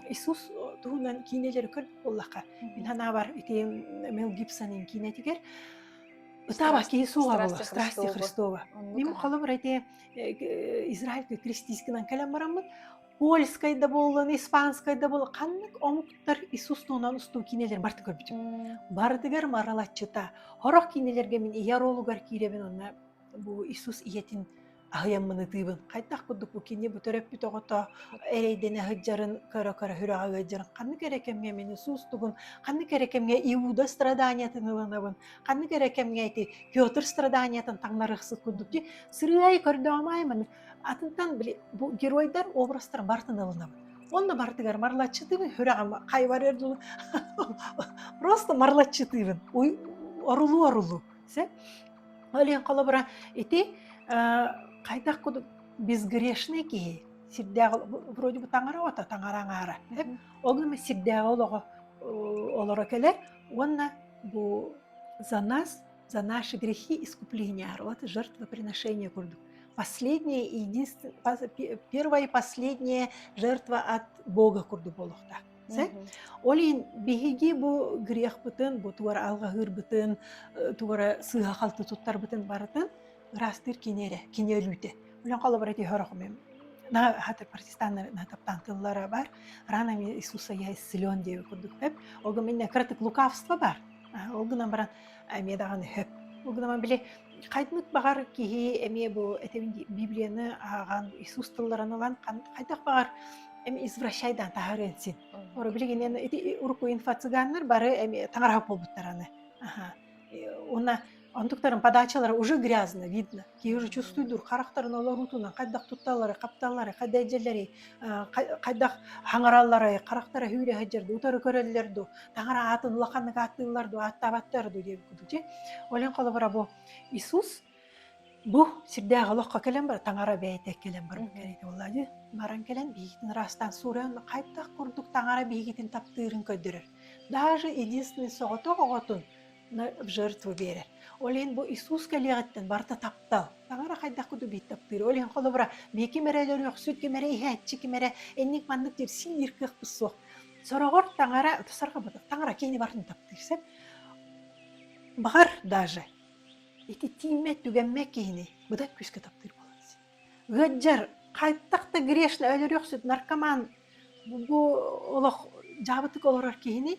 Иисус туһунан киинэлэри көрбүт буоллахха, мин санаабар ити Мел Гибсонын киинэтигэр ытаабас киһи суоҕа буолла, страсти Христова. Мин холобур ити Израильга крестискинан кэлэн бараммыт, польскай да буоллан, испанскай да буоллан, ханнык омуктар Иисус туһунан устуу киинэлэр барыта көрбүтүм. Барытыгар маралаччыта. Хорох киинэлэргэ мин ийэ оруолугар киирэбин онно бу Иисус ийэтин аһыйаммын ытыыбын. Хайдах курдук бу кинини бу төрөппүт оҕото эрэйдэнэ сылдьарын көрө-көрө сүрэҕэ ыалдьарын ханнык эрэ кэмҥэ мин суустугун, ханнык эрэ кэмҥэ Иуда страданиятын ылынабын, ханнык эрэ кэмҥэ ити Петр страданиятын таҥнарыахсыт курдук дии сырыай көрдөөмай маны атынтан били бу геройдар образтарын бартын ылынабын онно бартыгар марлаччытыыбын сүрэҕим хайбар өр дылы просто марлаччытыыбын орулуу орулуу Сөп. Ол иһин холобура ити, э, хайдах кудук безгрешный киһи сирдээх вроде бы таҥара оҕото таҥара аҥаара сөп. Ол гына сирдээҕи олоҕо олоро кэлэр уонна бу за нас, за наши грехи искупления, вот жертвоприношение курдук. Последнее и единственное, первое и последнее жертва от Бога курдук буолуохтаах. Ол иһин биһиги бу грехпытын, бу туора алҕаһыырбытын, э, туора сыыһа-халты туттарбытын барытын ыраастыыр кини эрэ, кини өлүүтэ. Өлөн холобура ити хөрөхүмүм. На хата протестаннар натаптаан тыллара бар. Рано ми Иисуса я исцелен диэбит курдук. Ол гынан баран, эмиэ даҕаны сөп. Ол гынан били хайдмыт баҕар киһи эмиэ бу этибин дии Библияны ааҕан Иисус тылларын ылан хайдах баҕар эми извращайдан таһарыан син. Мм. Оро билигинэн ити урукку инфо-цыганнар бары эми таҥараһа буолбуттар аны. Аха. Э, уна онтуктарын подачалара уже грязно, видно. киһи ручустуйдуур харахтарын олоруутунан хайдах тутталлары хапталлары хайда дьэллэри хайдах хаҥараллары харахтара сүүрэ сылдьар дуу утары көрөллөр дуу таҥара аатын улаханнык ааттыыллар дуу ааттаабаттар дуу дии ойлон холобура бу Иисус бу сирдээх олоххо кэлэн бар таҥара бэйэтэ кэлэн барбыт кэриэтэ буолла дии баран кэлэн биһигитин ыраастаан суурайан хайдах курдук таҥара биһигитин таптыырын көрдөрөр даже единственный соҕотох оҕотун в жертву биэрэр. Ол иһин бу Иисус кэлиэҕиттэн барыта таптал. Таҥара хайдах куду биир таптыыр. Ол иһин холобура, миэ ким эрэ өлөрөхсүт, ким эрэ иһээччи, ким эрэ инник маннык дирсии диир кыахпыт суох. Сороҕор таҥара, сорҕоботох таҥара кини барын таптыыр сөп. Баҕар даже ити тииммэ, түгэммэ киһини быдан күүскэ таптыыр буолан ыаддьар хайдах да грешно өлөрөхсүт, наркоман бу олох дьаабытык олорор киһини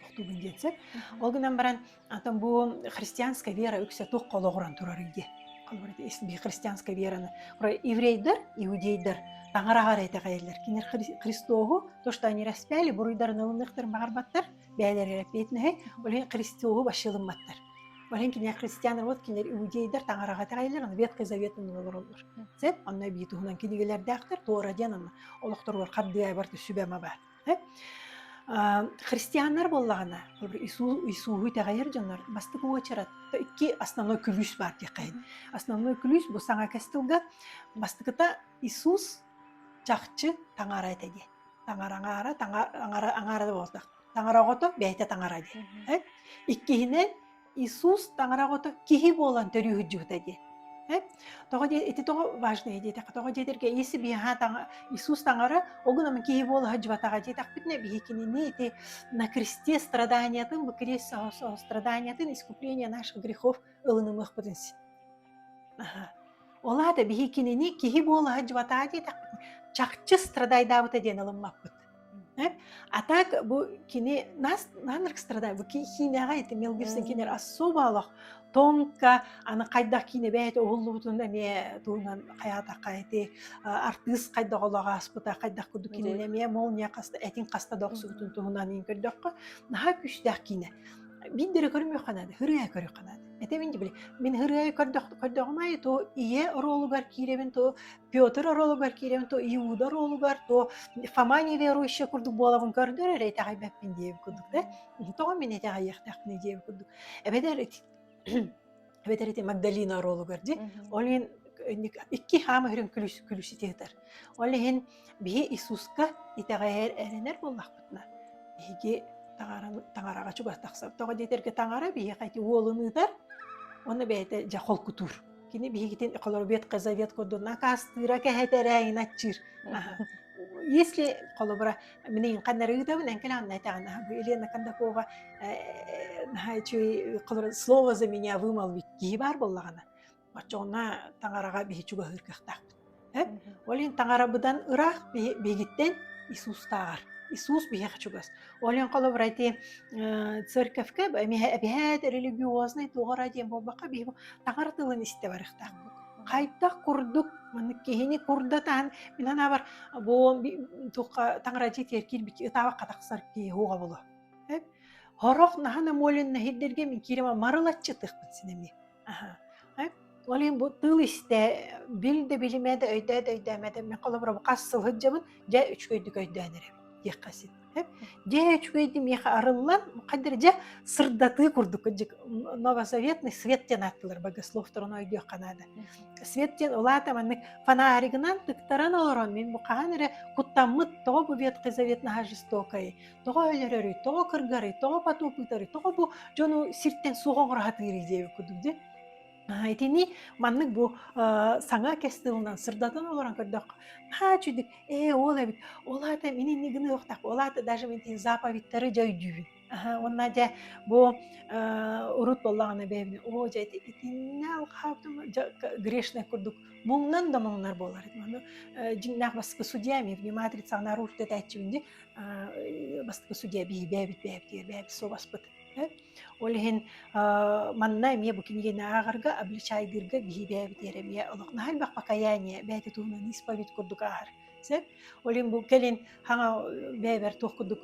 тохтуубун диэн сөп ол гынан баран ата бу христианская вера үксэ туох холоҕуран турарый дии би христианская вераны еврейдэр иудейдар таҥараҕар этэҕэйэллэр кинилэр христоһу то что они распяли буруйдарын ылыныахтарын баҕарбаттар бэйэлэр эрэппиэтинэһэй олен христоһу башылымматтар олен кинилэр христиандар вот кинилэр иудейдар таҥараҕа этэҕэйэллэр аны ветхый заветын ылалараллар сөп онно бии туһунан кинигэлэрдээхтэр туора диэн анна олохторугар хардыайбар сүбэма баар христианнар буоллаҕына Иисуһу итэҕэйэр дьоннор бастык уочарат икки основной күлүүс баар диэххэ основной күлүүс бу саҥа кэс тылга бастыкыта Иисус чахчы таҥара этэ диэн таҥара аҥаара таҥара аҥаара да буолбатах таҥара оҕото бэйэтэ таҥара диэн иккиһинэ Иисус таҥара оҕото киһи буолан төрүүһүддьүһүтэ дии. Тоҕо дии ити тоҕо важное диэтэххэ тоҕо диэтэргэ если би ха таҥа Иисус таҥара огуном киһи буола сдьыбатаҕа диэтэхпитинэ биһикинини ити на кресте страданиятын бу крест страданиятын искупление наших грехов ылынымыахпытын син. Ол аата биһикинини киһи буола сдьыбатаҕа диэтэхпитинэ чахчы страдайдаабыта диэн ылыммаппыт. А так бу кини нас наанрык страдаю, бу ки киинэҕэ ити Мел Гибсон кинилэр особолох тонко аны хайдах киинэ бэйэтэ уһуллубутун эмиэ туһунан хайаатахха ити артыыс хайдах олоҕо ааспыта, хайдах курдук кинини эмиэ молния хаста этин хаста да охсубутун туһунан иһин көрдөххө, наһаа күүстээх киинэ. Биирдэрэ көрүмүөххэ наада, ырыа көрүөххэ наада. Этэ мин дии били, мин ырыа көрдөх көрдөҕүм аайы ту ийэ оруолугар киирэбин ту Петр оруолугар киириэм то Иуда оруолугар, то Фома неверующая курдук буолабын көрдөр эрэ итэҕэйбэппин диэбит курдук да, тоҕо мин итэҕэйиэхтээхпиний диэбит курдук. Эбэтэр эбэтэр ити Магдалина оруолугар дьи, Мгм. ол иһин инник икки хаама үрүҥ күлүс күлүсүтү ытар. Ол иһин биһи Иисуска итэҕэйэр эрэнэр буоллахпытына, биһиги таҥараны таҥараҕа чугас тахсар. Тоҕо диэтэргэ таҥара биһиэхэ ити уолун ыытар, уонна бэйэтэ дьэ холкутуур. Кини биһигитин холобует казавет курдун акаастыыра кэһэтэрээйин аччыыр. Если холобура мин ханнары ыытабын энкелан найтаан Елена Кондакова үчүй холобура слово за меня вымал киһи бар боллагана. Оччоҕуна таҥараҕа биһи чугаһыыр кыахтаахпыт. Ол иһин таҥарабыдан ыраах биһигиттэн Иисустааҕар. Иисус биһиэхэ чугас. Ол иһин холобура ити церковька эбиһээт религиознай туора диэн буолбакка биһи таҥар тылын истэ барыахтаахпыт. Хайдах курдук маннык киһини курдатаан мин анаабар бу тухха таҥарадьы тиэркиир бикки ытаабакка тахсар киһи хуоҕабыла. Хорох наһана молен наһирдерге мин киирим марылаччы тыхпыт синеми. ол иһин бу тыл истэ бил да билимэ да өйдөөт өйдөөмөт эммэ холобура хас сыл сылһыддьабын дьэ үчүгэйдик өйдөөн эрэ диэххэ син дьэ үчүгэйди миэхэ арыллан хайдыр дьэ сырдатыы курдук кыдьык новосоветный свет диэн ааттылар богословторун ойдуохха наада свет диэн улаата маннык фонаригынан тыктаран олорон мин бу хаһан эрэ куттаммыт тоҕо бу ветхий завет наһа жестокой тоҕо өлөрөрүй, тоҕо кыргарый, тоҕо поту пытарый, тоҕо бу дьону сиртэн суох оҥоро диэбит курдук дии. Аһа, итини маннык бу, э, саҥа кэс тылынан сырдатан олорон көрдөххө, наһаа үчүгдүк, "Ээ, ол эбит, ол аата мин инник гыныахтаах, ол аата даже мин итин заповедьтары дьэ өйдүүбүн". Аһа, уонна дьэ бу, э, урут буоллаҕына бэйэбин, "Оо, дьэ ити итиннэ алҕаһа дьэ грешнай курдук муҥнан да муҥнар буолар этим". Аны, э, дьиҥнээх бастакы судья эмиэ, внимательницаҕын арыыр тэтээччибин дии, бастакы судья биирбээбит бээбитигэр бээбит суобаспыт ол иһин манна эмиэ бу кинигэни ааҕарга обличайдыырга биһибээбитигэр эмиэ олох наһаа элбэх покаяние бэйэтэ туһунан исповедь курдук ааһар сөп ол иһин бу кэлин хаҥа бэйэбэр туох курдук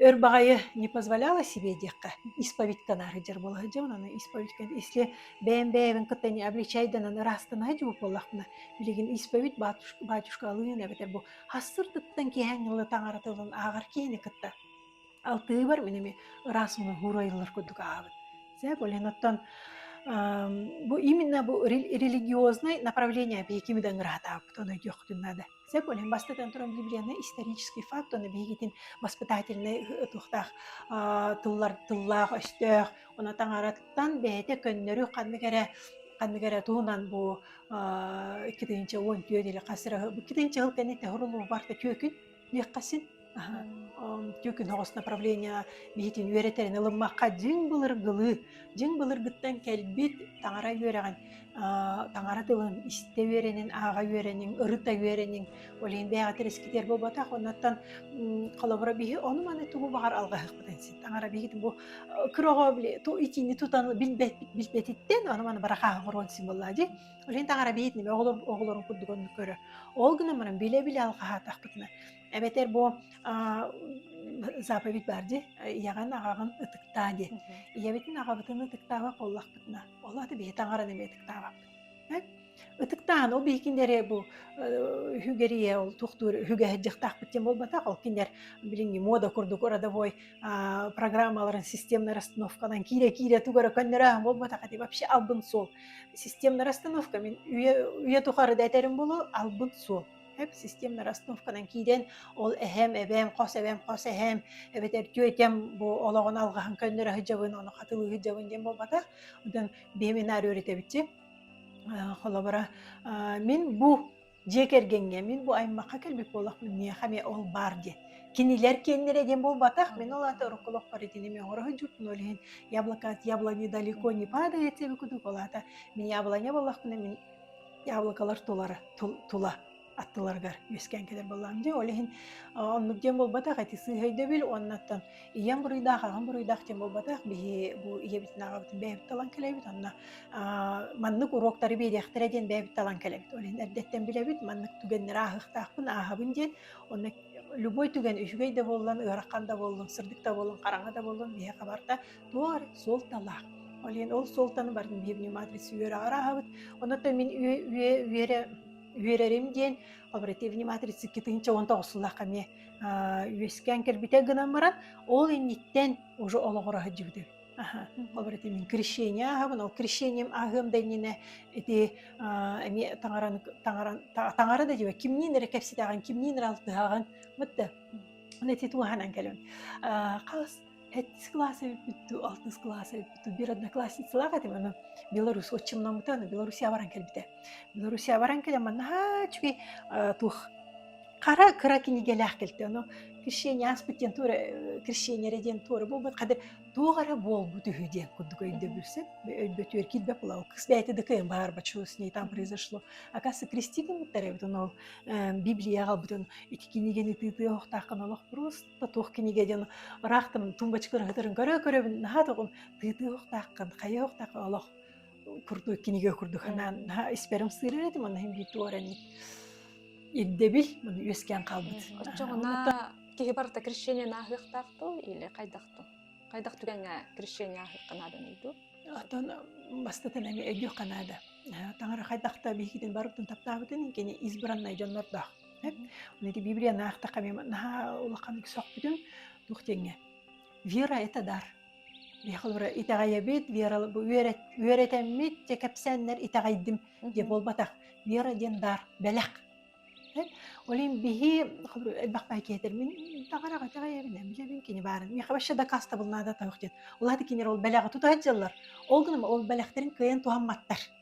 өр баҕайы не позволяла себе диэххэ исповедькэ наар сылдьар буола сылдьабын аны исповедькэ если бэйэм бэйэбин кытта не обличайданан ыраастанаһа дьубу буоллахпына билигин исповедь батюшка батюшка алыын эбэтэр бу Хассырдыттан киэһэҥ ылы таҥара тылын ааҕар киһини кытта алтыыбар мин эми ыраас муоһуур ойуулар курдук ааҕабыт. Сэг олен оттон бу именно бу религиознай направление биһиги да ыҥыраатаабыт ону диохтун надо. Сэг олен бастатан туран библияны исторический факт ону биһигитин воспитательнай туохтаах тыллар тыллаах өстөөх Уна таҥараттан бэйэтэ көннөрү ханнык эрэ ханнык эрэ туһунан бу иккитинчи уон түөн или хас эрэ иккитинчи ыл кэнниттэ хорунуубарта түөкүн диэххасин түөкүн хоҕос направление биһитин үөрэтэрин ылыммакка дьиҥ былыргылыы дьиҥ былыргыттан кэлбит таҥара үөрэҕин таҥара тылын истэ үөрэниҥ, ааҕа үөрэниҥ, ырыта үөрэниҥ. Ол иһин бэйэҕэ тэрискитэр буолбатах. Оннуттан холобура биһи ону-маны тугу баҕар алҕаһыахпытын син. Таҥара биһигитин бу кыраҕа били итини тутан билбэтиттэн ону-маны барахааһын хоруон син буоллаа дии. Ол иһин таҥара биһигитин оҕолорун курдук оннук көрөр. Ол гынан баран билэ-билэ алҕаһаатахпытына эбэтэр бу заповедь баар ди ийэҕин аҕаҕын ытыктаа ди ийэбитин аҕабытын ытыктаабат буоллахпытына ол аты бэйэ таҥаран эмиэ ытыктаабаппыт ытыктаан ол бии кинилэри бу үһүгэрийэ ол тухтуур үһүгэһэр дьахтаахпыт диэн буолбатах ол кинилэр билиҥҥи мода курдук родовой программаларын системнай расстановканан киирэ-киирэ тугара көннөрөөһүн буолбатах этэ вообще албын суол системнай расстановка мин үйэ тухары да этэрим болу албын суол эп системная расстановканан киирэн ол эһэм эбэм хос эбэм хос эһэм эбэтэр түөтэм бу олоҕун алҕаһын көннөрө сылдьабын ону хатылыы сылдьабын диэн буолбатах онтон биэминаар үөрэтэбитчи холобура мин бу дьиэ кэргэҥҥэ мин бу аймахха кэлбит буолахпын миэхэ эмиэ ол баар диэн кинилэр киэннэрэ диэн буолбатах мин ол аата урукку олохпор итини эмиэ оҥоро сылдьыппын ол иһин яблоко от яблони далеко не падает диэбит курдук ол аата мин яблоня буоллахпына мин яблокалар тулара тула аттыларыгар үөскээн кэлэр буоллаҕым дии ол иһин оннук диэн буолбатах эти сыыһа өйдөбүл уоннаттан ийэм буруйдаах аҕам буруйдаах диэн буолбатах биһи бу ийэбитин аҕабытын бэйэбит талан кэлэбит онно маннык уруоктары биэриэхтэрэ диэн бэйэбит талан кэлэбит ол иһин эрдэттэн билэбит маннык түгэннэри ааһыахтаахпын ааһабын диэн онно любой түгэн үчүгэй да буоллун ыарахан да буоллун сырдык да буоллун хараҥа да буоллун биһи хабарда Туор суолталаах. Ол иһин ол суолтаны барын биһи внимательство үөрэҕэр ааһабыт. Онуттан мин үө үө үөрэ үөрэрим диэн обрати внимательство китинче он тоҕусулаахха эмиэ үөскээн кэлбитэ гынан баран ол инниттэн уже олоҕура сылдьыбытым. Аха. Обрати мин крещение ааһабын, ол крещением ааһыам да иннинэ ити эмиэ таҥаран таҥаран таҥара да диибэ кимниин эрэ кэпсэтиэҕин, кимниин эрэ алтыһаҕын мытта ити туоһанан кэлэн хас Эт кылаас эбиппит, алтыс кылаас эбиппит, бір одноклассницалаах этим аны белорус отчимномута, аны Белоруссия баран кэлбитэ. Белоруссия баран кэлэн маннаһаа үчүгэй туох хара кыра кинигэлээх кэлтэ ону крещение ааспыт диэн туора крещение эрэ диэн туора буолбут хады туох эрэ буолбут үһү диэн курдук өйдөбүлсүн өйбөтүөр киирбэп была кыс бэйэтэ да кыйын баарба чу с ней там произошло оказывается крестили мыттар эбит ону Библия аҕалбытын ити кинигени тыытыа охтаахкын олох просто туох кинигэ диэн ыраахтан тумбачыкалар сытарын көрө-көрөбүн наһаа тоҕум тыытыы охтааххын хайа охтааххын олох курдук кинигэ курдук санаан наһаа испэрим сыырыр этим аны иһин биир туорани ирдэбил муну үөскээн хаалбыт оччоҕуна киһи барыта крещение нааһыахтаах тыл или хайдах ту хайдах түгэҥҥэ крещение аһыахха нааданый дуу оттон бастатан эми өйдүөх наада таҥара хайдахта биһигитин барыбытын таптаабытын кини избраннай дьоннордоох ити библияны аахтахха миэмэ наһаа улаханнык сөхпүтүм туох диэҥҥэ вера это дар биһиэхэ итэҕэйэбит вера үөрэтэммит дьэ кэпсээннэр итэҕэйдим дии буолбатах вера диэн дар бэлэх олин биһи элбэх бай киэтер мин таҕараҕа итэҕэйэбин билэбин кини баарын миэхэ вообще дакастабыл наада тоох диэн улааты кинер ол бэлэҕи тутар дьыллар ол гынан ол бэлэхтэрин кыайан туһамматтар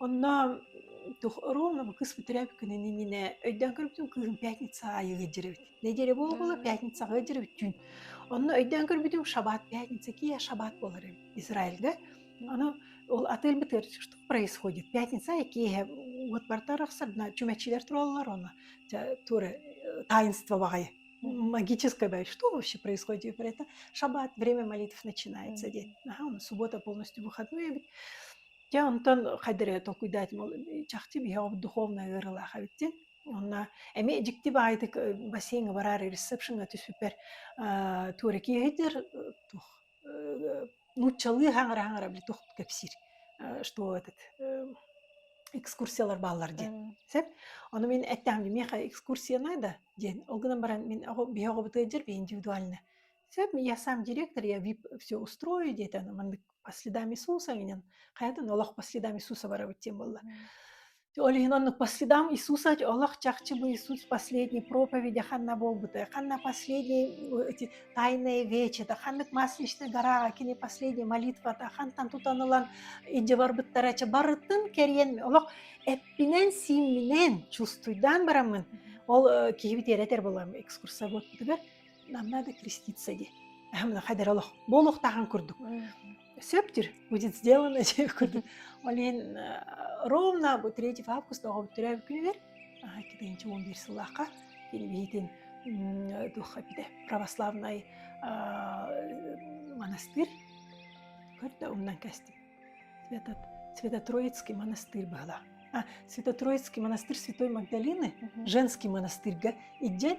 Онно тух ровно кыспытырап күнүн иннинэ өйдөөн көрбүтүм кыым пятница аайы ыддьырыбыт. Неделя буола М. пятницаҕа ыддьырбүттүүн. Онно өйдөөн көрбүтүм шаббат пятница кия шаббат буолар эбит Израильга. Ону ол атыыр бытыыр что происходит пятница и киэһэ вот бардарахсарна чүмэчилэр тураллар оно тя туры таинство баҕайы магическое бай что вообще происходит про это шаббат время молитв начинается диэн аха ону суббота полностью выходной эбит Дьэ онтон хайда эрэ толкуйдаатым ол чахчы биһиэхэ духовнай ыарыылаах эбит диэн. Онно эмиэ дьикти баҕайытык бассейҥҥа бараары ресепшеҥҥа түспүппэр аа туораки иһитэр туох нууччалыы хаҥара-хаҥара били туох кэпсиир что этот экскурсиялар бааллар диэн сөп ону мин эттэҕим миэхэ экскурсия наада диэн ол гынан баран мин биһиэхэ убытыайдьар индивидуально Сөп, я сам директор, я VIP все устрою диэтэ, аны маннык по следам Иисуса менен хайатын олох по следам Иисуса барабыт диэн буолла. Ол иһин оннук по следам Иисуса олох чахчы бу Иисус последний проповеди ханна буолбута, ханна последний эти тайные вечета, ханнык масличный гораҕа кини последний молитвата хантан тутанылан идде барбыттара ча барытын кэриэн олох эппинен симминен чувствуйдаан бараммын ол киһи тиэрэтэр булам экскурсовод бутугар нам надо креститься ди хайдара олох буолуохтаахан курдук сөптүр будет сделано курдук олин ровно бу третий август оҕобут төрөөбүт күнүгэр икки тыгынчы он бир сыллаахха кини биһитин духа эппите православнай монастырь көрдө умнан кәстім этот Святотроицкий монастырь была Святотроицкий монастырь Святой Магдалины женский монастырьга идден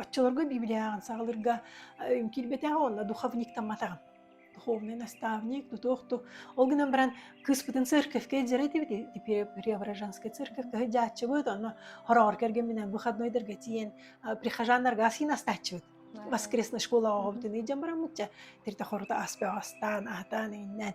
Оччолорго библияҕын саҕалыырга киирбэтэҕэ уонна духовниктамматаҕым. Духовный наставник, ну туох ту. Ол гынан баран кыыспытын церковькай дьара этибит теперь Преображенская церковь кыһыдьааччыбыт онно хороҕор кэргэмминэн выходнойдарга тиийэн прихожаннарга асыйын астааччыбыт воскресной школаҕа оҕобутун ыйдьан бараммытча тирте хорута аспе астаан аатаан иннэн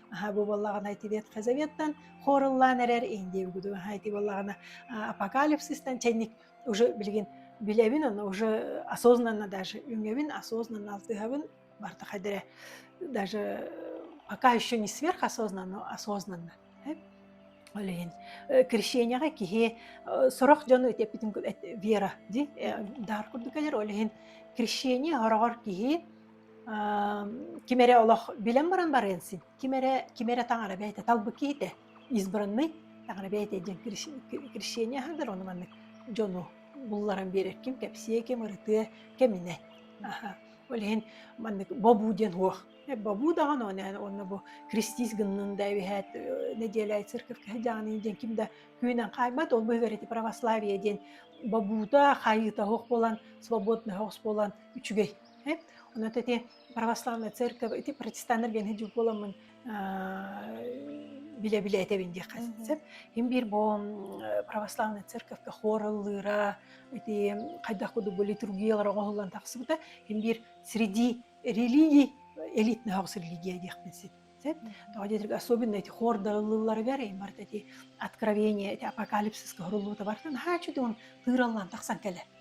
Аха бу буоллаҕына итириэтхэ заветтан хоруллаан эрэр инди угуду аха ити буоллаҕына апокалипсистан чэнник уже билигин билэбин оны уже осознанно даже үҥэбин осознанно алтыһабын барта хайдere даже пока еще не сверхосознанно осознанно Олейин крещенияға киһи сорох дьону итеппитин вера ди дар курдук келер олейин крещение хороҕор киһи Ким эрэ олох билэн баран барыан син. Ким эрэ ким эрэ таҥара бэйэтэ талбыт киһитэ избранный таҥара бэйэтэ диэн крещение аһардар ону маннык дьону булларан биэрэр ким кэпсиэ, ким ырытыа, кэминэ. Аһа. Ол иһин маннык бобуу диэн уох. Бобуу даҕаны уонна бу христиис гыннын да эбиһээт нэдиэлэ циркевка сыдьаанын диэн ким да күүнэн хаайбат ол быһыгар ити православие диэн бобуута хайыта оһох буолан свободный оһох буолан үчүгэй эт но тете православная церковь ити протестаннар биэн хадьу буоламмын билэ билэ этэбин диэххэ сөп им биир бу православная церковьке хор ыллыыра ити хайдах кудук бу литургиялар оҥоһуллан тахсыбыта им биир среди религий элитный хогс религия диэхпин сит сет тоҕо диэтик особенно эти хор да ыллыылларыгар иммарт эти откровение эти апокалипсиска хоруллуута барта наһаа чудун тыыраллан тахсан кэлэ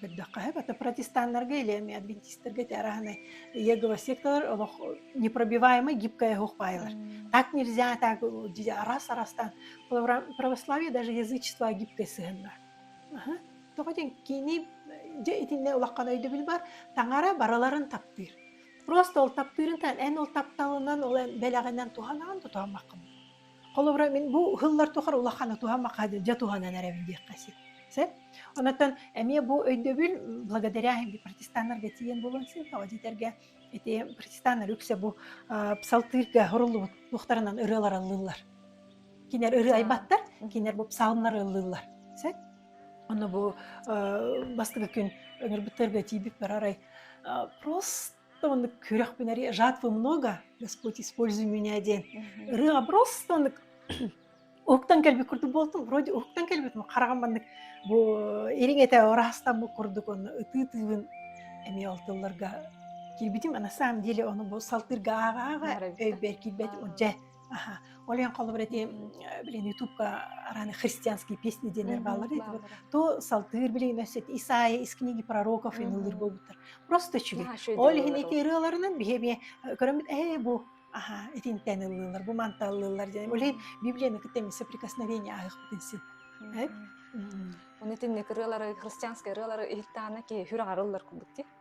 көрдөххө это протестаннарга или эмиэ адвентисттерга этээраһынай егова секталар олох непробиваемый гибкая их пайлар так нельзя так раз арастан православие даже язычество гибкое сыһынна тоҕо ден кини дьэ итиннэ улаххан өйдөбүл бар таҥара барыларын таптыыр просто ол таптыырын эн ол тапталынан ол бэлэҕинэн туһанаҕын тутамаккын Холобура, мин бу ыһыллар тухары улахана туһа-маха дьэ туһанан эрэбин диэххэ син. Сэ оннуттан эмиэ бу өйдөбүл благодаря протестаннарга тиийэн буолуон син тоҕо дитэргэ ити протестаннар үксэ бу псалтырьга хоруллубут туохтарынан ырыа лараллыллар. Кинер ырыа айбаттар, кинер бу псалмнар ыллыллар. Сэ онно бу бастыгы күн өмүрбүттэргэ тиийбит барарай просто Оннык күрөхпүн арыйа жатвы много, Господь используй меня диэн ырыаҕа просто оннук уһуктан кэлбит курдук буолтум вроде уһуктан кэлбитим хараҕым маннык бу ириҥ этэ ыраастаммыт курдук онно ытыы тыыбын эмиэ ол тылларга киирбитим а на самом деле ону бу салтыырга ааҕаҕа өйбөр киирбэт дьэ аха ол эн холобур ити билин ютубка араны христианские песни диэннэр бааллар итиби то салтыыр билигин өссө Исаия из книги пророков ен ыллыр болбуттар просто үчүгэй ол иһин ити ырыаларынан биһи эмиэ көрөммүт ээ бу аха итинтэн ыллылар бу манта ыллылар диэн олей библияны кытем соприкосновение ахыппытын син оны итинник ырыалары христианскай ырыалары иһиттаана ки хүрэ арыллар курдук ти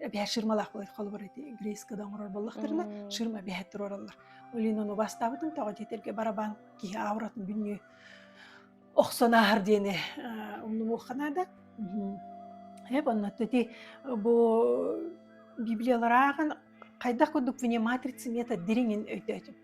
эбээ ширмалаах буой холобур ити грейскада оҥорор буоллахтарына ширма бэһэ туруораллар олинон убастаабытым тоҕо диэтэргэ барабан киһи ауратын бүннүү охсон ааһар диэни умнумуоххана да эп онно ити бу библияларааҕын хайдах курдук внимательница мета дириҥин өйдөөтүм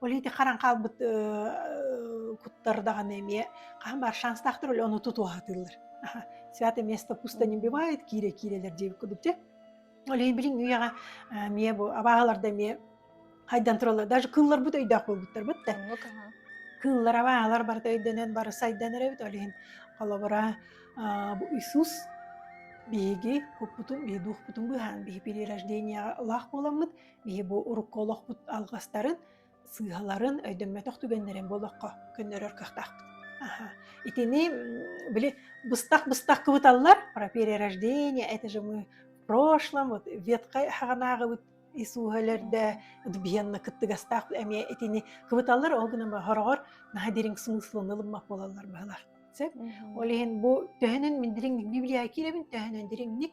Ол иһин харан хаалбыт куттар даҕаны эмиэ хаһан баар шанстаахтар оле ону тутуһатыыллар. Святое место пустыни бывает киирэ-киирэлэр диэбит кудук дьэ. Ол иһин билин үйэҕэ эмиэ бу абааһыларда эмиэ хайдан тураллар даже кылларбыт өйдөөх буолбуттарбыт да. Кыллар абааһылар барыта өйдөнөн бары сайданар эбит. Ол иһин холобура бу Иисус биһиги куппутун биһи дуухпутун быһаан биһи перерожденияҕа ылаах буоламмыт Биһи бу урукку олохпут алҕастарын, сыыһаларын өйдөммөтөх түгэннэрин бу олоххо көннөрөр кыахтаахпыт. Аха. Итини, били, быстах-быстах кыбыталлар, про перерождение, это же мы в прошлом, вот веткай хаганааҕыбыт Иисуһөлөрдө вианна кыттыгастаах эмиэ итини кыбыталлар ол гынан хороҕор наһа дириҥ смыслын ылыммак болаллар баһылах. Сөп. Ол иһин бу төһөнөн мин дириҥник Библия киирэбин төһөнөн дириҥник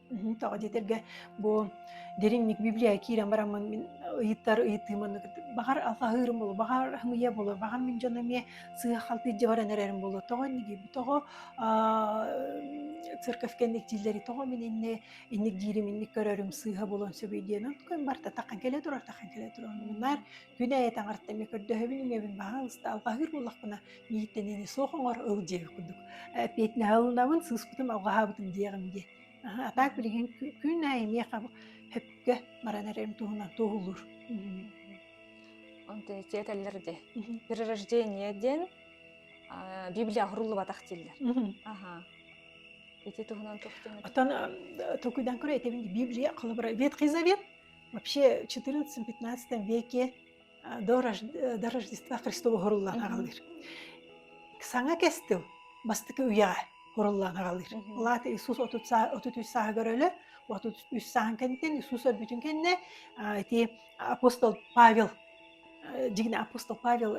Мм, тоҕо диэтэргэ бу дириҥник библия киирэн бараммын мин ыйыттар ыйытыым онно баҕар саһыырым буолуо, баҕар һымыйа буолуо, баҕар мин дьоно эмиэ сыах алтыйдьа баран эрэрим буолуо. Тоҕо инник диэбит, тоҕо аа церковь кэнник дииллэрий, тоҕо мин инни инник диирим, инник көрөрүм сыыһа буолуон сөбүй диэн. Онтукам барыта таххан кэлэ турар, таххан кэлэ турар. Муннар Күн айа таҥарта эмиэ көрдөһөбүн үҥэбин баҕаҥ ыста алҕаһыыр буоллахпына миигиттэн сох оҥор ыл дьиэбин курдук петняһа ылынабын сыыспытым алҕаһаабытым диэҕим дии а так билигин күн айа эмиэ хөпкө баран эрэрим туһунан туоһулуур этэллэр де перерождение диэн библия хуруллубатах дииллэр аха ити туһунан оттон токуйдан көрө этэбин библия холобура ветхий завет вообще в XIV-XV веке э, до, до Рождества Христова хуруллаан аҕалыыр. Саҥа кестил бастакы үйэҕэ хуруллаан аҕалыыр. Улаата Иисус 33 сааһыгар өлө, 33 сааһын кэнниттэн Иисус өлбүтүн кэннэ ити апостол Павел дигин апостол Павел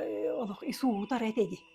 олох Иисус утар этиди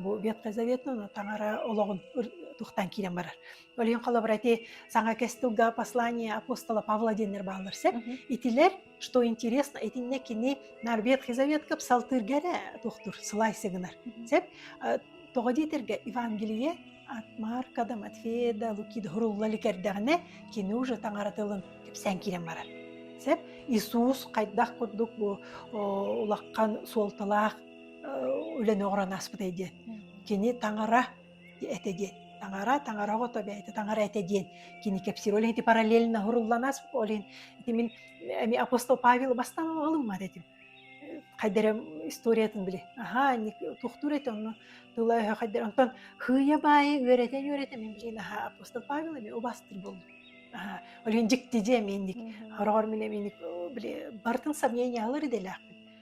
бу ветзаветтана таҥара олоҕун тухтан киирэн барар. Ол иһин холобура ити саҥа кэс тылга послание апостола Павла диэннэр бааллар сеп. Итилер, что интересно, итиннэ кини нар Ветхий Завет кып салтыргара тухтур сылайсы гынар. Сеп тоҕо диэтерге Евангелие от Марка да Матфея да Лукида хурулла ликердегіне кини уже таңара тылын кепсән кирен барар. Сеп Иисус хайдах курдук бу улаккан суолталаах үлэни оҥорон аспытай диэн. Кини таҥара этэ диэн. Таҥара, таҥара оҕото бэйэтэ таҥара этэ диэн. Кини кэпсиир. Ол иһин параллельно һуруллан ас, ол иһин ити мин эми апостол Павел бастан ылыммат этим. Хайда эрэ историятын билэ. Аха, тухтуур этэ онно тыла-өһө хайдара. Онтон хыйа-баайы үөрэтэн-үөрэтэн мен билин аха апостол Павел эми убастыр болду. Аха, ол иһин дьикти дьиэ менник. Хороҕор мин эми били бартын сомнениялар идэлээхпин.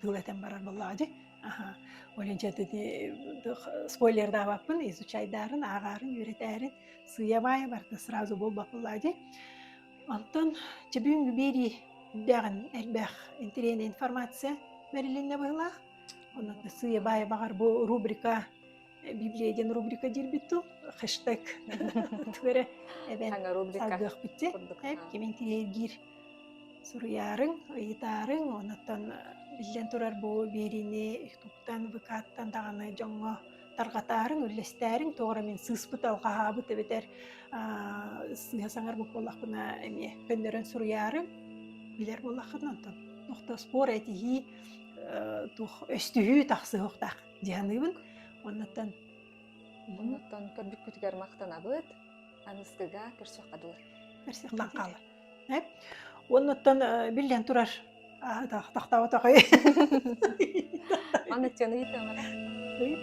тыл этэн барар буоллаҕа дии аха ойончо ити спойлердаабаппын изучайдарын ааҕарын үөрэтээрин сыйабаайа барда сразу буолбат буоллаҕа дии онтон чебүүнгү берии үрдээҕин элбэх интириэнэ информация бэрилиннэ быһылаах онон сыйабаайа баҕар бу рубрика Библия диэн рубрика диирбит тыл хэштег тугу эрэ эбэн салгыахпытчэ кимин тириэргиир суруйаарыҥ ыйытаарыҥ онон биллэн турар бу биэриини туттан выкаттан даҕаны дьоҥҥо тарҕатаарыҥ үллэстээриҥ тоҕо эрэ мин сыыспыт алҕаһаабыт эбэтэр сыыһа саҥарбыт буоллахпына эмиэ көннөрөн суруйаарыҥ билэр буоллаххына онтон тохтоспор этиһии туох өстүһүү тахсыһыахтаах дьаһаныыбын оннуттан муннуттан көрбүккүтүгэр махтанабыт аныстыга көрсүөххэ дылы көрсүөхтэн хаалар э? оннуттан биллэн турар тахтаабат аҕай маннык дьону ыйытыалара ыйыт